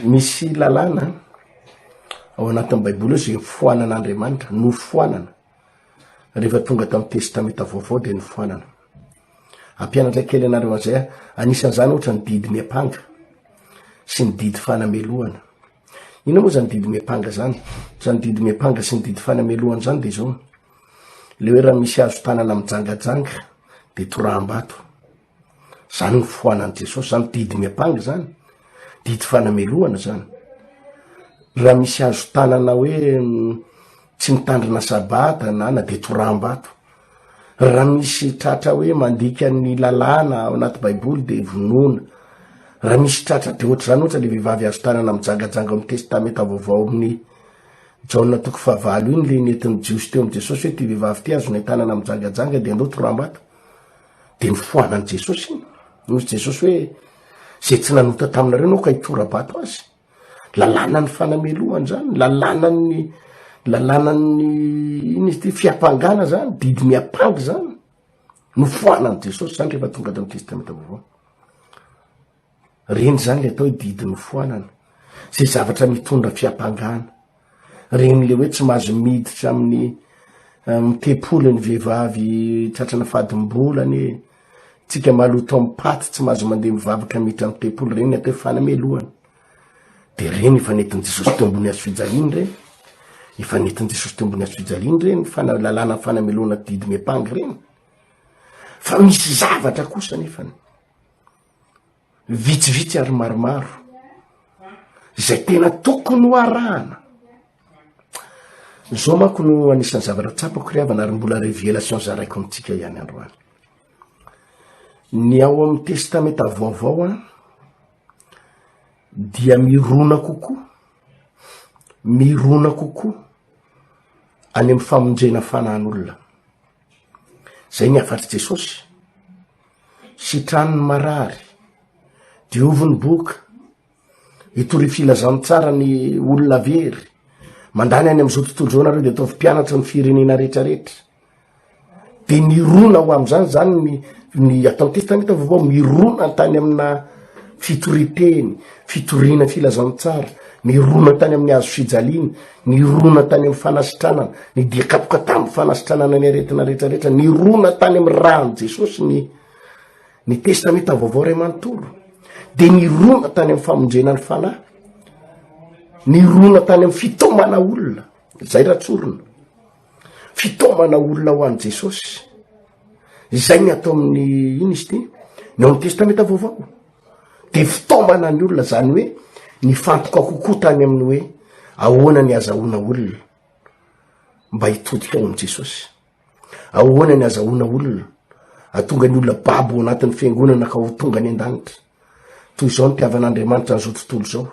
Misy lalàna ao anatin'ny Baiboly izay foanan'Andriamanitra, nofoanana. Rehefa tonga tamin'ny testamenta vaovao dia nofoanana. Ampianatra kely anareo an'izay aho, anisan'izany ohatra ny didy miampanga sy ny didy fanamelohana. Inona moa zany didy miampanga zany? Zany didy miampanga sy ny didy fanamelohana zany de zao. Le hoe raha misy hazo tanana mijangajanga de toraham-bato. Zany ny foanan'i Jesosy zany, didy miampanga zany, didy fanamelohana zany. Raha misy hazo tanana hoe Tsy mitandrina sabata na na dia toraham-bato. Raha misy tratra hoe mandika ny lalàna ao anaty Baiboly dia vonoina. Raha misy tratra be hoatr'izany ohatra ilay vehivavy azo tanana mijangajanga ao amin'ny Testamenta Vaovao amin'ny Jaona toko fahavalo iny ilay nentin'ny Jiosy teo amin'i Jesosy hoe ity vehivavy ity azonay tanana mijangajanga dia andao toraham-bato. Dia nofoanan'i Jesosy iny. Hoy Jesosy hoe izay tsy nanota taminareo no ka hitora-bato azy. Lalànan'ny fanamelohana zany, lalànan'ny lalànan'ny ino izy ty, fiampangana zany, didy miampanga zany, nofoanan'i Jesosy zany rehefa tonga tamy Testamenta Vaovao. Reny zany le atao hoe didy nofoanana, ze zavatra mitondra fiampangana. Regny le hoe tsy mahazo miditra amin'ny amin'ny tempoly ny vehivavy tratrana fadim-bolany e. Tsika maloto amin'ny paty tsy mahazo mandeha mivavaka miditra amin'ny tempoly regny atao hoe fanamelohana. De regny efa nentin'i Jesosy teo ambony hazo fijaliany regny. Efa nentin'i Jesosy teo ambony hazo fijaliany regny fana- lalàna fanamelohana didimem-pangy regny. Fa misy zavatra kosa nefany. vitsivitsy ary maromaro izay tena tokony ho arahana zao manko no anisan'ny zavatra tsapako ry havana ary mbola revelation zaraiko amintsika ihany androany ny ao amin'ny testamenta vaovao a dia mirona kokoa mirona kokoa any amin'ny famonjena fanan'olona Zay ny hafatr'i Jesosy. Sitrano ny marary, diovy ny boka, hitory filazantsara ny olona very, mandany any am'izao tontolo zao nareo de ataovy mpianatra ny firenena retraretra. De mirona ho am'zany zany ny ny atantista ny tavovao mirona tany amina fitoriteny, fitoriana filazantsara, mirona tany amin'ny hazo fijaliana, Nirona tany amin'ny fanasitranana, ny dia kapoka tamin'ny fanasitranana ny aretina rehetra rehetra, nirona tany amin'ny rany Jesosy ny ny testamenta vaovao ray manontolo, dia nirona tany amin'ny famonjena ny fanahy, nirona tany amin'ny fitomana olona, zay raha tsorina. Fitaomana olona ho an'i Jesosy. Izay ny atao amin'ny ino izy ity? Ny ao amin'ny Testamenta Vaovao. Dia fitaomana ny olona izany hoe nifantoka kokoa tany amin'ny hoe ahoana ny azahoana olona mba hitodika ao amin'i Jesosy. Ahoana ny azahoana olona atonga ny olona babo anatin'ny fiangonana ka ho tonga any an-danitra. Toy izao ny tiavan'Andriamanitra an'izao tontolo izao.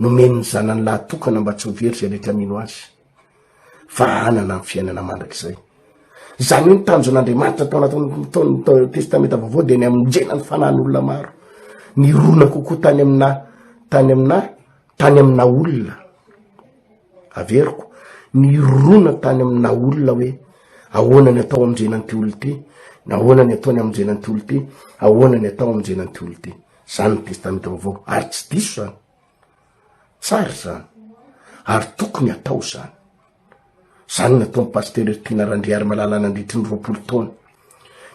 Nomeny ny zanany lahy tokana mba tsy ho very izay rehetra mino azy, fa hanana ny fiainana mandrakizay. Izany hoe ny tanjon'Andriamanitra tao anatin'ny testamenta vaovao dia ny amonjena ny fanahin'olona maro, ny rona kokoa tany amina tany amina tany amina olona. Averiko, ny rona tany amina olona hoe ahoana ny atao amonjena an'ity olona ity, na ahoana ny ataony amonjena an'ity olona ity, ahoana ny atao amonjena an'ity olona ity. Zany ny testamenta vaovao ary tsy diso zany tsara zany ary tokony atao zany zany nataony pasteur ertina randriary malala nandritry ny roapolo taona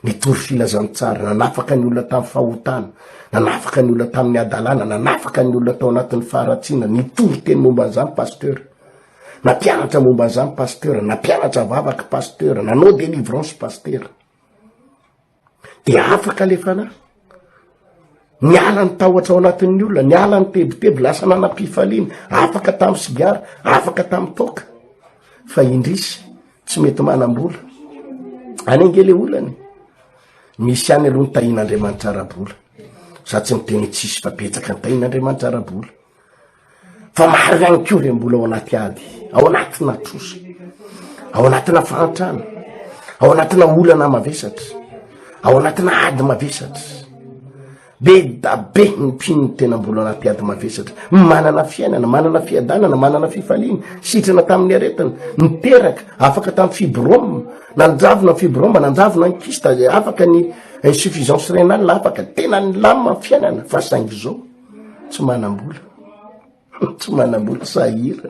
nitory filazan tsara nanafaka ny olona tamy fahotana nanafaka ny olona tamin'ny adalàna nanafaka ny olona tao anatin'ny faharatsiana nitory teny momba an'izany pasteur nampianatra momba an'izany pasteur nampianatra vavaka pasteur nanao delivrance pasteur de afaka le fanahy niala ny tahotra ao anatin'ny olona niala ny tebiteby lasa nanam-pifaliana afaka tamin'ny sigara afaka tamin'ny toaka fa indrisy tsy mety manam-bola any ange le olany misy any aloha ny tahin'andriamanitra ara-bola za tsy miteny tsisy fa betsaka ny tahin'andriamanitra ara-bola fa maro ihany ko re mbola ao anaty ady ao anatina trosa ao anatina fahantrana ao anatina olana mavesatra ao anatina ady mavesatra be dabe ny mpinony tena mbola anaty ady mavesatra manana fiainana manana fiadanana manana fifaliana sitrana tamin'ny aretiny niteraka afaka tamin'ny fibrome nanjavona ny fibrome nanjavona ny kista afaka ny insuffisance renal afaka tena ny lama fiainana fa saingy zao tsy manam-bola tsy manam-bola sahirana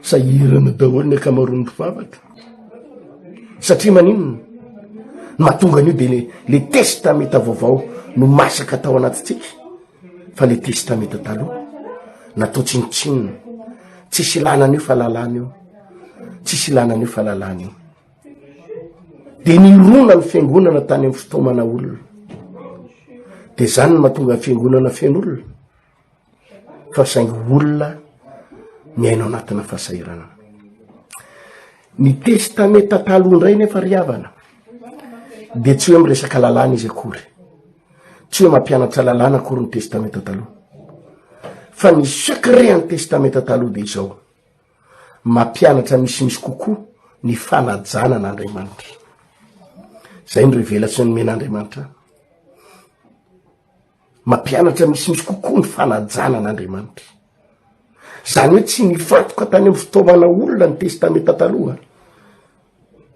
sahirana daholo ny akamaroan'ny mpivavaka satria maninona mahatonga an'io de le le testameta vaovao no masaka tao anatintsika fa le testameta taloha natao tsinotsinona tsisy ilana an'io fa lalàna io tsisy ilana an'io fa lalàna io Dia nirona ny fiangonana tany amin'ny fitaomana olona. Dia izany no mahatonga ny fiangonana feno olona. Fa saingy olona miaino anatina fahasahiranana. Ny testamenta taloha indray nefa ry havana dia tsy hoe miresaka lalàna izy akory. Tsy hoe mampianatra lalàna akory ny testamenta taloha. Fa ny secret ny testamenta taloha dia izao. mampianatra misimisy kokoa ny fanajana an'Andriamanitra. Izay ny revelation nomen'Andriamanitra ahy. Mampianatra misimisy kokoa ny fanajana an'Andriamanitra. Izany hoe tsy nifantoka tany amin'ny fitaovana olona ny testamenta taloha.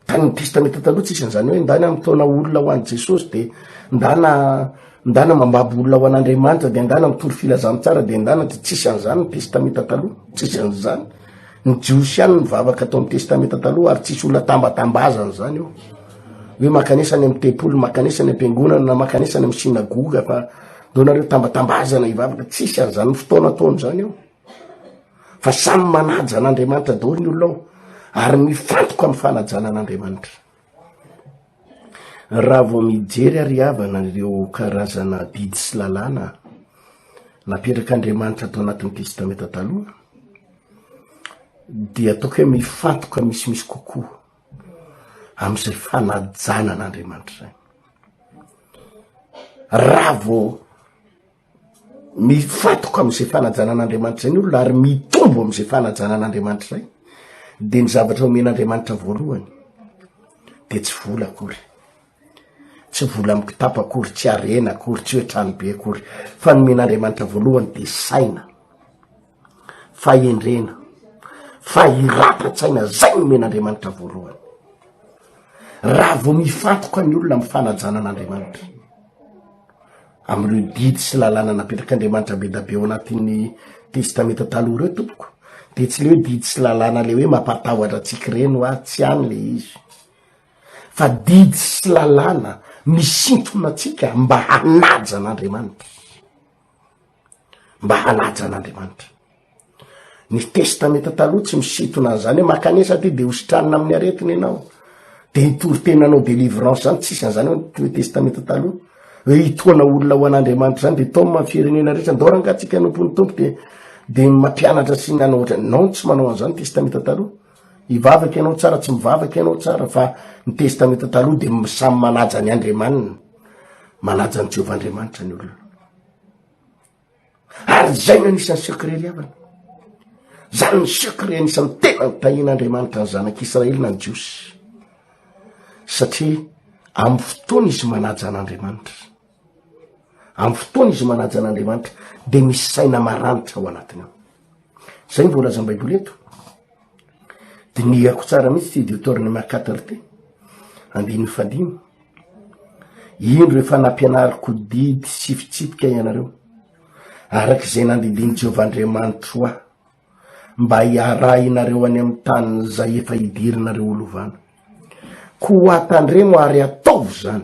Fa ny testamenta taloha tsy isan' izany hoe ndana mitaona olona ho any Jesosy de ndana ndana mambabo olona ho an'Andriamanitra de ndana mitory filazantsara de ndana de tsy isan' izany ny testamenta taloha tsy isan' izany ny jiosy ihany mivavaka atao amin'ny testamenta taloha ary tsisy olona tambatambazana izany eo hoe makanesa any amin'ny tempoly makanesa any am-piangonana na makanesa any amin'ny synagoga fa ndao nareo tambatambazana hivavaka tsy isan' izany ny fotoana ataony izany eo fa samy manaja an'Andriamanitra daholo ny olona ao ary mifantoka amin'ny fanajana an'Andriamanitra raha vao mijery ary havana ireo karazana bidy sy lalàna naperak'Andriamanitra atao anatin'ny testamenta taloha dia ataoko hoe mifantoka misimisy kokoa am'izay fanajana an'Andriamanitra zany raha vao mifantoka am'izay fanajana an'Andriamanitra izay ny olona ary mitombo am'izay fanajana an'Andriamanitra izay, de ny zavatra omen'Andriamanitra voalohany de tsy vola akory, tsy vola amy kitapo akory, tsy harena akory, tsy hoe tranobe akory, fa ny omen'Andriamanitra voalohany de saina. fahendrena, fahirapan-tsaina, zay nomen'Andriamanitra voalohany, raha vao mifantoka ny olona am fanajana an'Andriamanitra, am'ireo didy sy lalàna napetrak'Andriamanitra be da be ao anatin'ny testamenta taloha reo tompoko, de tsy le hoe didy sy lalàna le hoe mampatahotra antsika reny hoa, tsy any le izy, fa didy sy lalàna misintona antsika mba hanaja an'Andriamanitra. mba hanaja an'Andriamanitra. Ny testamenta taloha tsy misitona an'izany hoe makanesa ty de ho sitranina amin'ny aretina ianao. De hitory tena anao delivrance zany tsisy an'izany hoe ny testamenta taloha. Hoe hitoana olona ho an'Andriamanitra zany de tom amin'ny firenena rehetra ndao ranga antsika anompon'ny tompo de de mampianatra sy ny anao ohatrany. Non tsy manao an'izany ny testamenta taloha. Hivavaka ianao tsara tsy mivavaka ianao tsara fa ny testamenta taloha de samy manaja ny Andriamaniny. Manaja an'i Jehovah Andriamanitra ny olona. Ary izay no anisan'ny secret ny havana. Izany ny secret anisan'ny tena notahian'Andriamanitra ny zanak'Israely na ny Jiosy. Satria amin'ny fotoana izy manaja an'Andriamanitra, amin'ny fotoana izy manaja an'Andriamanitra, dia misy saina maranitra ao anatiny ao. Zay ny voalazan'ny Baiboly eto. Dinihako tsara mihitsy ty Deuterone Makatar ty. Andininy fadimy. Indro efa nampianariko didy sy fitsipika ianareo. Araka izay nandidian'i Jehovah Andriamanitro ahy mba hiarahinareo any amin'ny tany izay efa hidirinareo ho lovana. Koa tandremo ary ataovy izany.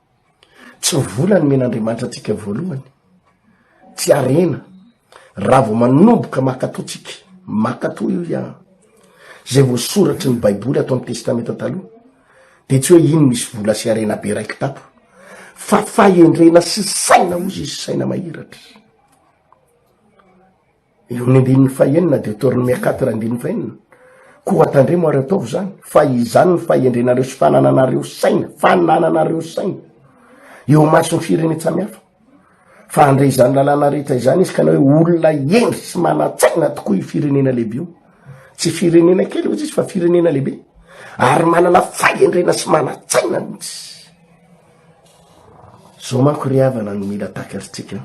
Tsy ny vola no omen'Andriamanitra antsika voalohany. Tsy harena. Raha vao manomboka mankatò tsika, mankatò io ia. Izay voasoratry ny Baiboly ato amin'ny Testamenta Taloha, dia tsy hoe iny misy vola sy harena be raiki-tato, fa fahendrena sy saina hozy izy, saina mahiratra. Eo amin'ny andininy fahenina dia torin'i Mercator andininy fahenina, Koa tandremo ary ataovy izany, fa izany ny fahendrenareo sy fanananareo saina, fanananareo saina, eo imason'ny firenen-tsamy hafa, fa handray izany lalàna rehetra izany izy ka na hoe olona hendry sy manan-tsaina tokoa io firenena lehibe io, tsy firenena kely hoy izy fa firenena lehibe, ary manana fahendrena sy manan-tsaina mihitsy. Zao manko ry havana no mila takaritsika.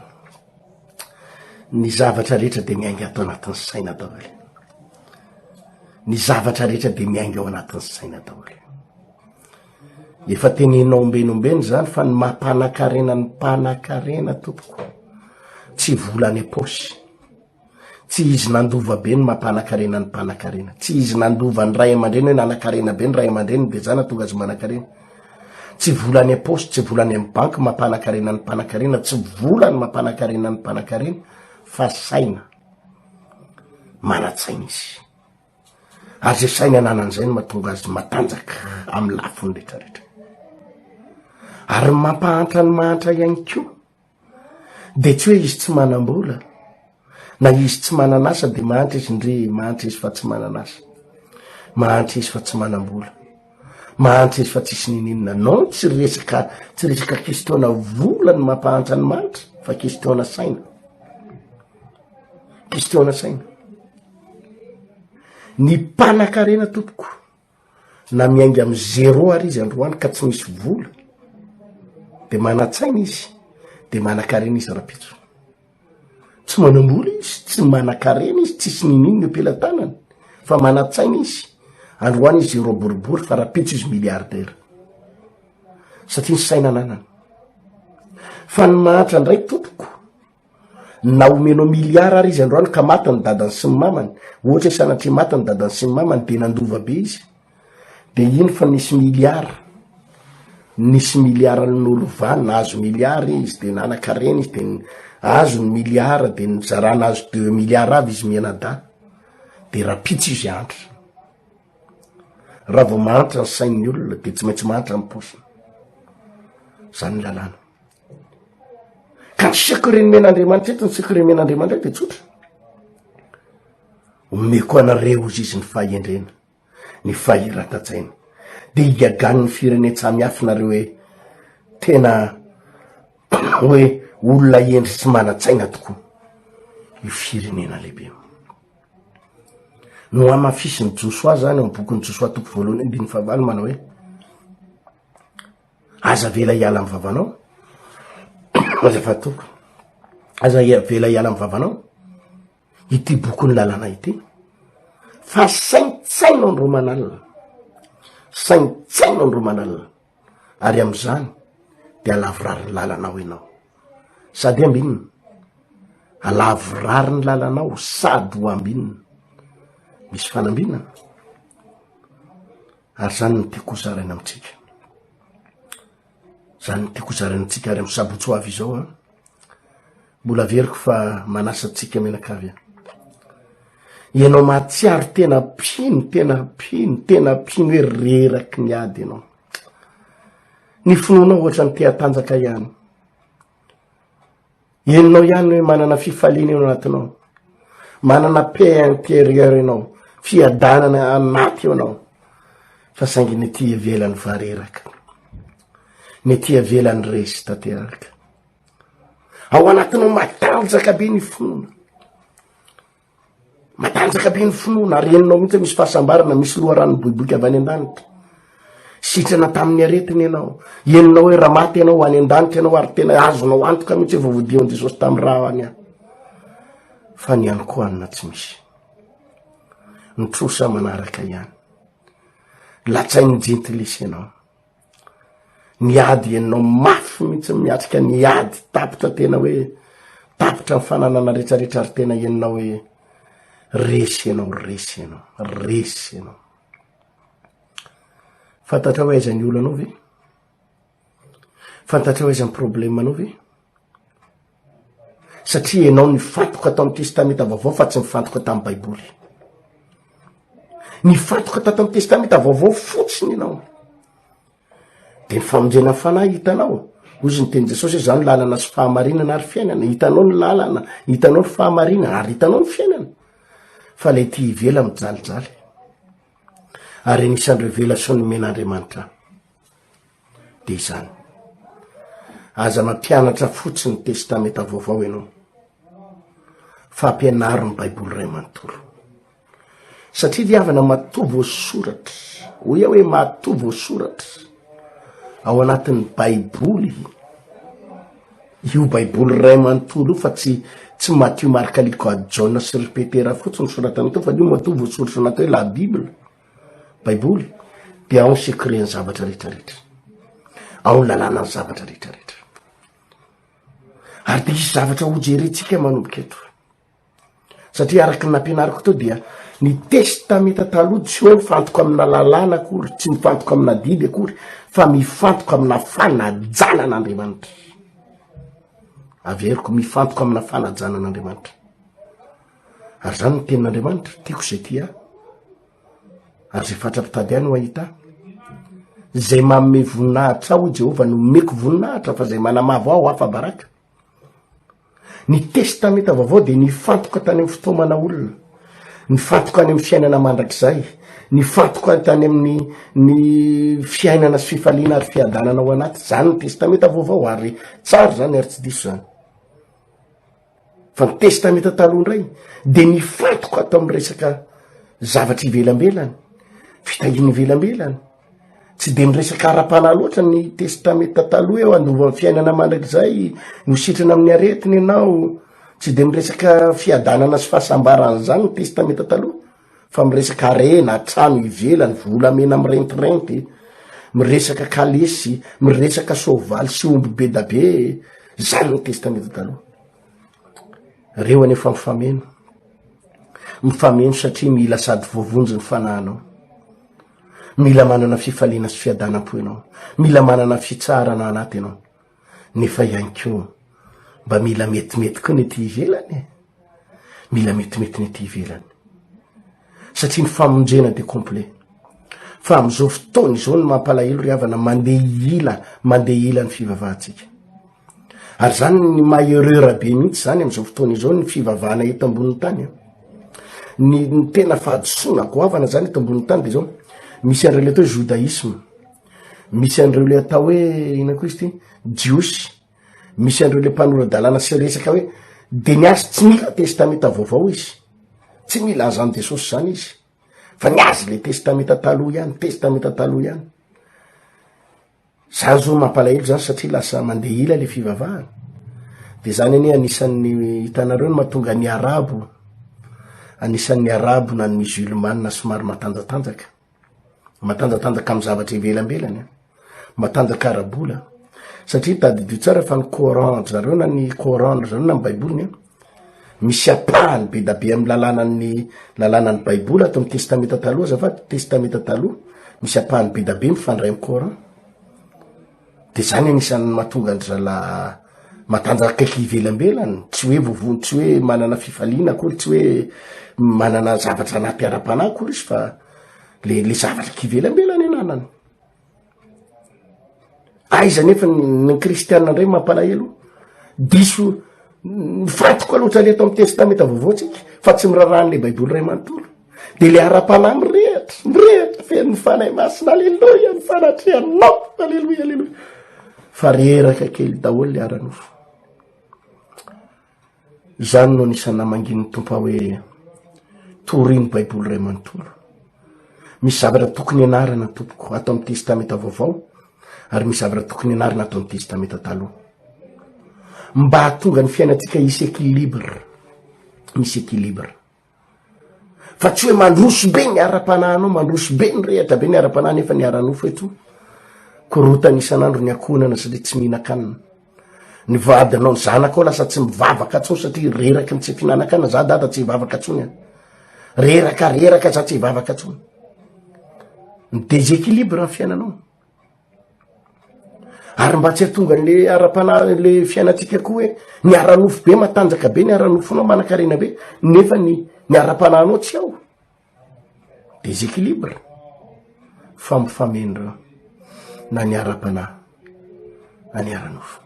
Ny zavatra rehetra dia miainga ato anatin'ny saina daholo. Ny zavatra rehetra dia miainga ao anatin'ny saina daholo. Efa teneninao ombeny ombeny zany fa ny maha mpanakarena ny mpanakarena tompoko tsy vola any am-paosy. Tsy izy nandova be ny maha mpanakarena ny mpanakarena. Tsy izy nandova ny ray aman-dreny hoe nanakarena be ny ray aman-dreny dia izany nahatonga azy manakarena. Tsy vola any am-paosy, tsy vola any amin'ny banky maha mpanakarena ny mpanakarena, tsy vola ny maha mpanakarena ny mpanakarena fa saina. Manan-tsaina izy. Ary izay saina ananan'izay no mahatonga azy matanjaka amin'ny lafiny rehetrarehetra. Ary ny mampahantra ny mahantra ihany koa, Dia tsy hoe izy tsy manam-bola, na izy tsy manan'asa dia mahantra izy, ndry, mahantra izy fa tsy manan'asa. Mahantra izy fa tsy manam-bola. Mahantra izy fa tsisy ninininona. Non, tsy resaka, tsy resaka question-na vola no mampahantra ny mahantra, fa question-na saina. Question-na saina. Ny mpanan-karena tompoko. na miainga amin'ny zero ary izy androany ka tsy misy vola de manan-tsaina izy de manan-karena izy rapitso tsy manam-bola izy tsy manan-karena izy tsisy ninin ny am-pelatanany fa manan-tsaina izy androany izy zero boribory fa rapitso izy milliardera satria ny saina ananany fa ny mahantra indray tompoko Na omenao milliard ary izy androany ka maty ny dadany sy ny mamany, ohatra hoe sanatria maty ny dadany sy ny mamany dia nandova be izy, dia iny fa nisy milliard, nisy milliard nolovana, azo milliard izy dia nanakarena izy dia azo ny milliard dia nizarana azo deux milliard avy izy mianadahy, dia rapitso izy andry. Raha vao mahantra ny sain'ny olona dia tsy maintsy mahantra ny paosiny. Zany ny lalàna. Ka ny secret nomen'Andriamanitra eto, ny secret nomen'Andriamanitra eto dia tsotra. Omeko anareo hozy izy ny fahendrena, ny fahiratan-tsaina. De higagan'ny firenen-tsamy hafa nareo hoe tena hoe olona hendry sy manan-tsaina tokoa io firenena lehibe io. No hamafisin'ny Josoa zany, ao am-bokin'i Josoa toko voalohany andininy fahavalo manao hoe, Aza avela hiala amin'ny vavanao. Azafady tompoko. Aza avela hiala amin'ny vavanao. Ity bokin'ny lalàna ity. Fa saintsaino ny romanalina. Saintsaino ny romanalina. Ary amin'izany dia alavorariny lalanao ianao. Sady ambinina. Alavorariny lalanao sady ho ambinina. Misy fanambinana. Ary izany no tiako hozaraina amintsika. Izany no tiako hozaraina amintsika ary amin'ny sabotsy ho avy izao an. Mbola averiko fa manasa antsika mianakavy an. Ianao mahatsiaro tena mpino, tena mpino, tena mpino hoe reraky ny ady ianao. Ny finoanao ohatra ny te-hatanjaka ihany. Henonao ihany hoe manana fifaliana eo anatinao. Manana paix intérieure ianao, fiadanana anaty eo anao. Fa saingy ny ety ivelany vareraka. Ny ety ivelany resy tanteraka. Ao anatinao matanjaka be ny finoana. Matanjaka be ny finoana, ary henonao mihitsy misy fahasambarana, misy loharano miboiboika avy any an-danitra. Sitrana tamin'ny aretina ianao. Henonao hoe raha maty ianao, any an-danitra ianao, ary tena azonao antoka mihitsy efa voadian'i Jesosy tamin'ny raha any aho. Fa ny ihany koa anina tsy misy. Ny trosa manaraka ihany. Latsain'ny jentilisa ianao. ny ady enao mafy mihitsy miatrika ny ady tapitra tena hoe tapitra ny fananana retraretra ary tena enao hoe resy enao resy enao resy enao fantatra ho aizany olanao ve fantatra ho aizany problema anao ve Satria enao nifantoka tao amin'ny Testamenta Vaovao fa tsy nifantoka tamin'ny Baiboly. Nifantoka tato amin'ny Testamenta Vaovao fotsiny ianao. Dia ny famonjena ny fanahy hitanao. Hoy izy ny teny Jesosy izany ny lalana sy fahamarinana ary fiainana. Hitanao ny lalana, hitanao ny fahamarinana ary hitanao ny fiainana. Fa ilay ety ivela mijalijaly. Ary anisan'ny revelasion'ny men'Andriamanitra. Dia izany. Aza mampianatra fotsiny ny Testamenta Vaovao ianao, fa ampianaro ny Baiboly iray manontolo. Satria dia havana matoa voasoratra, ho ia hoe matoa voasoratra, ao anatin'ny Baiboly, io Baiboly iray manontolo io fa tsy tsy Matio, Marka, Liko, Ady, Jaona sy ry Petera fotsiny soratan'ny Tompo, fa io matoa voasoratra anaty hoe La Bible. baiboly de ao ny secret ny zavatra retraretra ao ny lalàna ny zavatra retraretra ary de isy zavatra hojerentsika manomboka eto satria araky ny nampianariko teo dia ny testamenta taloha tsy hoe mifantoka amina lalàna akory tsy mifantoka amina didy akory fa mifantoka amina fanajanan'andriamanitra averiko mifantoka amina fanajanan'andriamanitra Ary zany ny tenin'Andriamanitra, tiako izay tia ahy, ary zay fatra-pitady ahy no hahita ahy. Izay manome voninahitra ahy, hoy Jehovah, no omeko voninahitra, fa izay manamavo ahy, ho afa-baraka. Ny Testamenta Vaovao dia nifantoka tany amin'ny fitaomana olona, nifantoka any amin'ny fiainana mandrakizay, nifantoka tany amin'ny ny fiainana sy fifaliana ary fiadanana ao anaty. Zany ny Testamenta Vaovao, ary tsara zany ary tsy diso zany. fa ny testamenta taloha indray de nifantoka ato amn'ny resaka zavatra ivelambelany fitahiany ivelambelany tsy de miresaka ara-panahy loatra ny testamenta taloha eo andova ny fiainana mandrakizay no sitrana amin'ny aretiny ianao tsy de miresaka fiadanana sy fahasambarana zany ny testamenta taloha fa miresaka arena trano ivelany volamena mirentirenty miresaka kalesy miresaka sovaly sy omby be da be zany ny testamenta taloha reo any efa mifameno mifameno satria mila sady voavonjy ny fanahanao mila manana fifaliana sy fiadanam-po ianao mila manana fitsarana anaty ianao nefa ihany koa mba mila metimety koa ny ety ivelany e mila metimety ny ety ivelany satria ny famonjena de complet fa am'izao fotoana izao ny mampalahelo ry havana mandeha ila mandeha ila ny fivavahantsika ary zany ny maherera be mihitsy zany am'izao fotoana izao ny fivavahana eto ambonin'ny tany a ny tena fahadisoana goavana zany eto ambonin'ny tany de zao misy an'ireo le atao hoe judaisme Misy an'ireo le atao hoe ina koa izy ty jiosy, misy an'ireo le mpanora-dalàna sy resaka hoe de ny azy tsy mila testamenta vaovao izy, tsy mila azan'i Jesosy zany izy fa ny azy le testamenta taloha ihany, testamenta taloha ihany. Zany zao mampalahelo zany satria lasa mandeha ila le fivavahana. De zany anie anisan'ny hitanareo ny mahatonga ny arabo, anisan'ny arabo na ny musulmana somary matanjatanjaka. Matanjatanjaka amin'ny zavatra ivelambelany an, matanjaka ara-bola satria tadidio tsara fa ny coran ry zareo na ny coran ry zareo na ny baiboliny an, misy apahany be da be amin'ny lalànan'ny lalànan'ny baiboly ato amin'ny testamenta taloha azafady, testamenta taloha, misy apahany be da be mifandray amin'ny coran. De zany anisan'ny mahatonga an-dry zalahy matanjaka kaiky ivelambelany, tsy hoe voavono, tsy hoe manana fifaliana akory, tsy hoe manana zavatra anaty ara-panahy akory izy fa le le zavatra k'ivelambelany ananany. Aiza nefa ny ny kristiana ndray mampalahelo, diso mifantoka loatra le eto amin'ny testamenta vaovao tsika fa tsy miraharaha an'le baiboly ray manontolo. Dia le ara-panahy mirehatra, mirehatra, feno ny Fanahy Masina, aleloia, ny fanatrehanao, aleloia, aleloia. Fa reraka kely daholo le ara-nofo. Izany no anisan'ny namangin'ny Tompo aho hoe torino Baiboly iray manontolo. Misy zavatra tokony ianarana tompoko ato amin'ny testamenta vaovao ary misy zavatra tokony ianarana ato amin'ny testamenta taloha. Mba hahatonga ny fiainantsika hisy équilibre, misy équilibre. fa tsy hoe mandroso be ny ara-panahinao mandroso be ny rehatra be ny ara-panahy nefa ny ara-nofo eto korotany isan'andro ny akohonana satria tsy mihinan-kanina ny vadinao ny zanakao lasa tsy mivavaka tsony satria reraky ny tsy fihinanan-kana za dada tsy hivavaka tsony an reraka reraka za tsy hivavaka tsony ny deséquilibre ny fiainanao ary mba tsy atonga an'le ara-panahy an'le fiainantsika koa hoe ny ara-nofo be matanjaka be ny ara-nofonao manan-karena be nefa ny ny ara-panahinao tsy ao deséquilibre fampifamendrona na ny ara-panahy na ny ara-nofo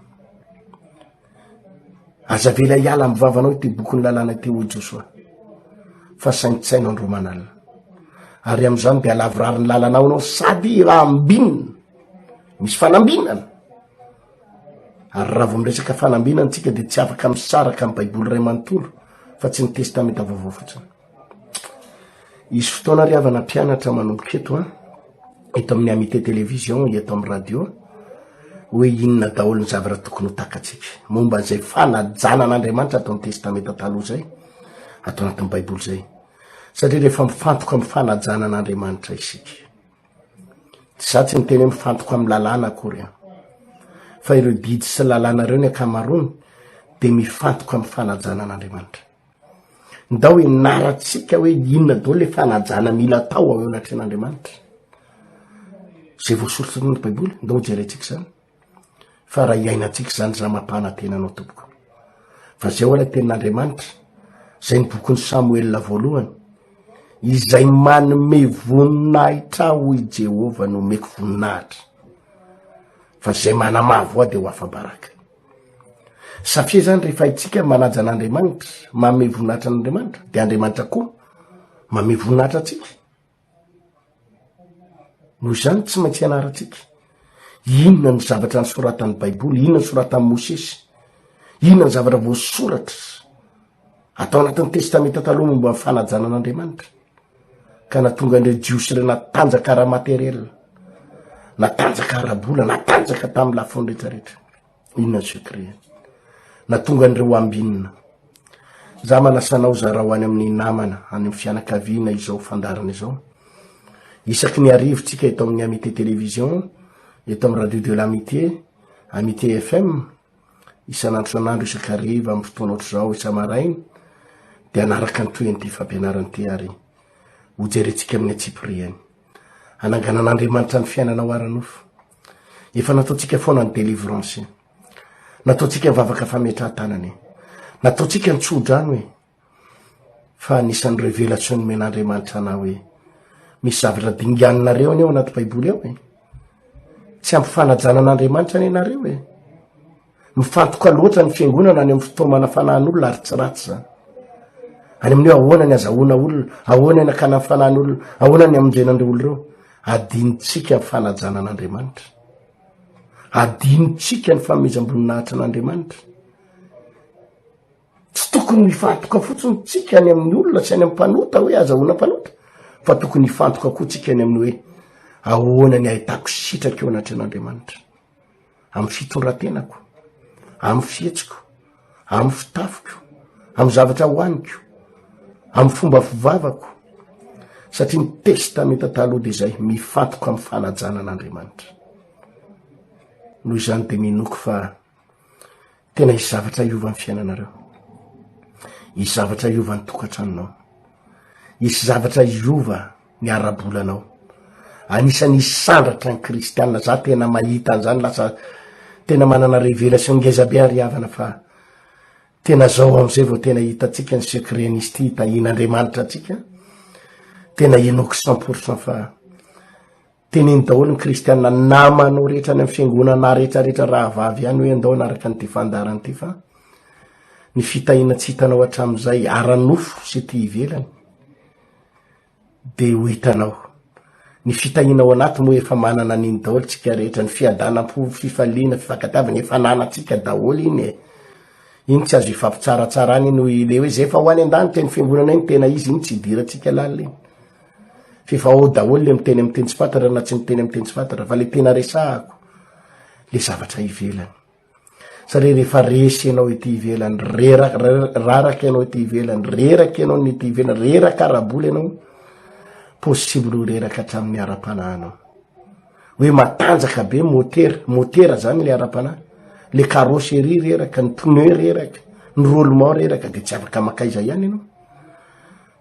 Aza avela hiala amin'ny vavanao ity bokin'ny lalàna ity hoy Josoa, fa saintsaino andro aman'alina, ary amin'izany dia halavorary ny lalanao ianao sady hiraham-binina, misy fanambinana, ary raha vao miresaka fanambinana isika dia tsy afaka misaraka amin'ny baiboly iray manontolo fa tsy ny testamenta vaovao fotsiny. Hisy fotoana ry havana mpianatra manomboka eto an, eto amin'ny Amitié Télévision, eto amin'ny radio, hoe inona daholo ny zavatra tokony ho takatsika momba an'izay fanajana an'Andriamanitra ato amin'ny Testamenta Taloha izay, ato anatin'ny Baiboly izay. Satria rehefa mifantoka amin'ny fanajana an'Andriamanitra isika, za tsy miteny hoe mifantoka amin'ny lalàna akory an, fa ireo didy sy lalàna ireo ny ankamaroany dia mifantoka amin'ny fanajana an'Andriamanitra. Ndao ianarantsika hoe inona daholo le fanajana mila atao eo anatrehan'Andriamanitra. Zay voasoratra tao anaty baiboly, ndao hojerentsika zany. Fa raha iainantsika zany za mampanantena anao tompoko. Fa zay ho'a le tenin'Andriamanitra, zay ny bokin'i Samoela voalohany, izay manome voninahitra aho hoy Jehovah no omeko voninahitra, fa zay manamavo ahy de ho afa-baraka. Satria zany rehefa itsika manaja an'Andriamanitra, manome voninahitra an'Andriamanitra, de Andriamanitra koa manome voninahitra atsika. Noho izany tsy maintsy ianarantsika. Inona ny zavatra nisoratan'ny Baiboly, inona ny soratan'i Mosesy, inona ny zavatra voasoratra. atao anatin'ny testamenta taloha momba ny fanajana an'Andriamanitra ka natonga an'ireo jiosy ireo natanjaka ara-materiela natanjaka ara-bola natanjaka tamin'ny lafiny rehetrarehetra inona ny secret natonga an'ireo ambinina za manasanao zarao any amin'ny namana any amin'ny fianakaviana izao fandarana izao isaky ny arivotsika eto amin'ny amité télévision eto amin'ny radio de l'amité amité fm isan'andro isan'andro isakariva amin'ny fotoana ohatr'izao isa-maraina dia anaraka ny tohin'ity fampianarana ity ary hojerentsika amin'ny antsipiriany hananganan'Andriamanitra ny fiainanao ara-nofo efa nataontsika foana ny délivrance nataontsika ny vavaka fametrahan-tanana e nataontsika ny tsodrano e fa anisan'ny revelation nomen'Andriamanitra anao hoe misy zavatra dinganinareo anie ao anaty baiboly ao e tsy ampy fanajana an'Andriamanitra anie nareo e mifantoka loatra ny fiangonana any amin'ny fitaomana fanahin'olona ary tsy ratsy zany any amin'io ahoana ny azahoana olona ahoana ny akana ny fanahin'olona ahoana ny amonjena an'ireo olo ireo adinontsika ny fanajana an'Andriamanitra adinontsika ny famezam-boninahitra an'Andriamanitra Tsy tokony ho hifantoka fotsiny tsika any amin'ny olona sy any amin'ny mpanota hoe azahoana mpanota, fa tokony hifantoka koa tsika any amin'ny hoe ahoana ny ahitako sitraka eo anatrehan'Andriamanitra, amin'ny fitondrantenako, amin'ny fihetsiko, amin'ny fitafiko, amin'ny zavatra hohaniko, amin'ny fomba fivavako, satria ny testamenta taloha dia izay mifantoka amin'ny fanajana an'Andriamanitra. Noho izany dia minoako fa Tena hisy zavatra hiova ny fiainanareo. Hisy zavatra hiova ny tokantranonao. Hisy zavatra hiova ny ara-bolanao. Anisan'ny hisandratra ny kristianina. Za tena mahita an'izany lasa tena manana révélation ngeza be ary havana fa tena zao am'izay vao tena hitantsika ny secret nisy ty hitahian'Andriamanitra antsika. Tena inoako cent pour cent fa Teneno daholo ny kristiana namanao rehetra any amin'ny fiangonana rehetrarehetra rahavavy ihany hoe andao anaraka an'ity fandaharana ity fa ny fitahiana tsy hitanao hatramin'izay ara-nofo sy ety ivelany dia ho hitanao. Ny fitahiana ao anaty moa efa manana an'iny daholo tsika rehetra, ny fiadanam-po, fifaliana, fifankatiavana efa ananantsika daholo iny e. Iny tsy azo ifampitsaratsarana iny, le hoe izay efa ho any an-danitra iny fiangonana iny tena izy iny tsy idirantsika lalina iny. F'efa ao daholo le miteny amin'ny teny tsy fantatra na tsy miteny amin'ny teny tsy fantatra fa le tena resahako le zavatra ivelany. Satria rehefa resy ianao ety ivelany, rera- re- raraka ianao ety ivelany, reraka ianao ny ety ivelany, reraka ara-bola ianao, possible ho reraka hatramin'ny ara-panahinao. Hoe matanjaka be motera, motera zany le ara-panahy, le carrosserie reraka, ny pneu reraka, ny roulement reraka de tsy afaka makaiza ihany ianao.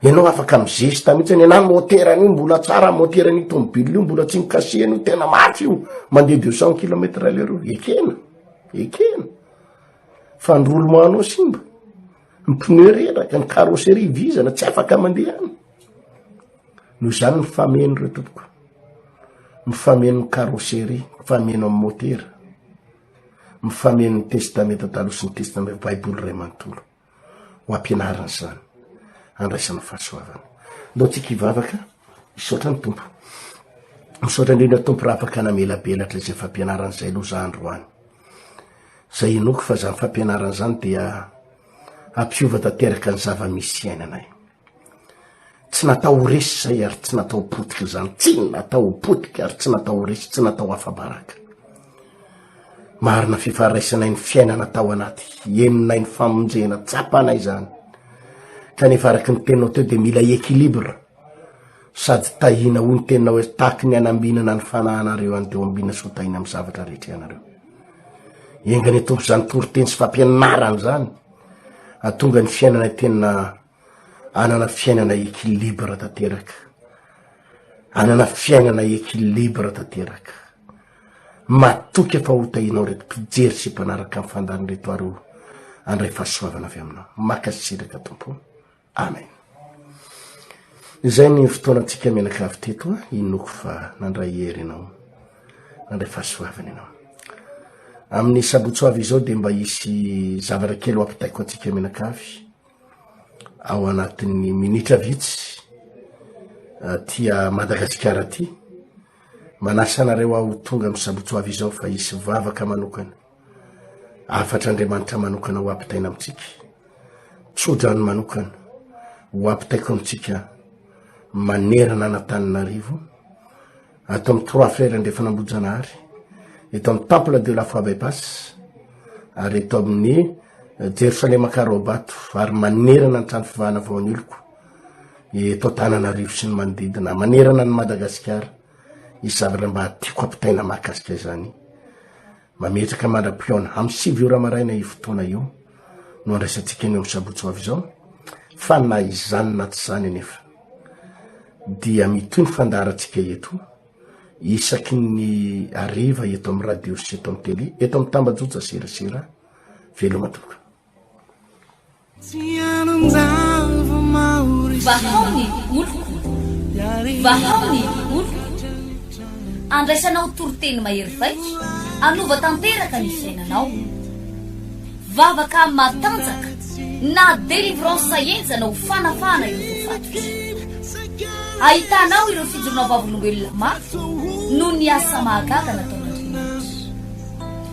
Ianao afaka mizesta mihitsy any anany moteran'io mbola tsara moteran'io tomobile io mbola tsy mikasihana io tena mafy io mandeha deux cent kilomètre à l'heure io ekena ekena fa ny roulement anao simba ny pneu reraka ny carrosserie vizana tsy afaka mandeha any no izany mifameno ireo tompoko mifameno ny carrosserie mifameno amin'ny motera mifameno ny testamenta taloha sy ny testamenta baiboly ray manontolo ho ampianariny izany handraisana fahasoavana ndao tsika hivavaka misaotra ny tompo misaotra indrindra tompo raha afaka namelabelatra izay fampianarana izay aloha za androany zay inoako fa zany fampianarana izany dia ampiova tanteraka ny zava-misy iainanay Tsy natao ho resy izay ary tsy natao ho potika izany. Tsy natao ho potika ary tsy natao ho resy, tsy natao afa-baraka. Marina fifaraisanay ny fiainana tao anaty henonay ny famonjena, tsapanay izany. Kanefa araka ny teninao teo dia mila équilibre sady tahina ho ny teninao hoe tahaky ny anambinana ny fanahanareo any teo ambina soa tahina amin'ny zavatra rehetra ianareo. Enganie Tompo izany toriteny sy fampianarana izany. Hahatonga ny fiainanay tena hanana fiainana equilibre tanteraka. Hanana fiainana equilibre tanteraka. Matoky aho fa ho tahinao ireto mpijery sy mpanaraka ny fandaharan'ireto ary ho handray fahasoavana avy aminao. Mankasitraka tompoko. Amen. Izay ny fotoanantsika mianakavy teto a, inoako fa nandray hery ianao, nandray fahasoavana ianao. Amin'ny sabotsy ho avy izao dia mba hisy zavatra kely ho ampitaiko antsika mianakavy ao anatin'ny minitra vitsy tia Madagasikara ity. Manasa anareo aho tonga amin'ny sabotsy ho avy izao fa hisy vavaka manokana. Hafatr'Andriamanitra manokana ho ampitaina amintsika, tsodrano manokana ho ampitaiko amintsika manerana an'Antananarivo, ato amin'ny Trois Frères Andrefana Ambohijanahary, eto amin'ny Temple de la Foi Bypass, ary eto amin'ny Jerosalema Karobato, ary manerana ny trano fivahana vao aniloko, eto Antananarivo sy ny manodidina, manerana ny Madagasikara. Ny zavatra mba tiako ampitaina mahakasika izany, mametraka mandra-pihaona amin'ny sivy ora maraina io fotoana io no andraisantsika ny amin'ny sabotsy ho avy izao, fa na izany na tsy izany anefa dia mitohy ny fandaharantsika eto isaky ny hariva eto amin'ny radio sy eto amin'ny tele, eto amin'ny tambajotra serasera, veloma tompoko. Vahao ny oloko, vahao ny oloko, andraisanao toriteny mahery vaika, hanova tanteraka ny fiainanao. Vavaka matanjaka na délivrance henjana ho fanafahana ireo voafatotra. Ahitanao ireo fijoroana vavolombelona mafy noho ny asa mahagaga nataon'Andriamanitra.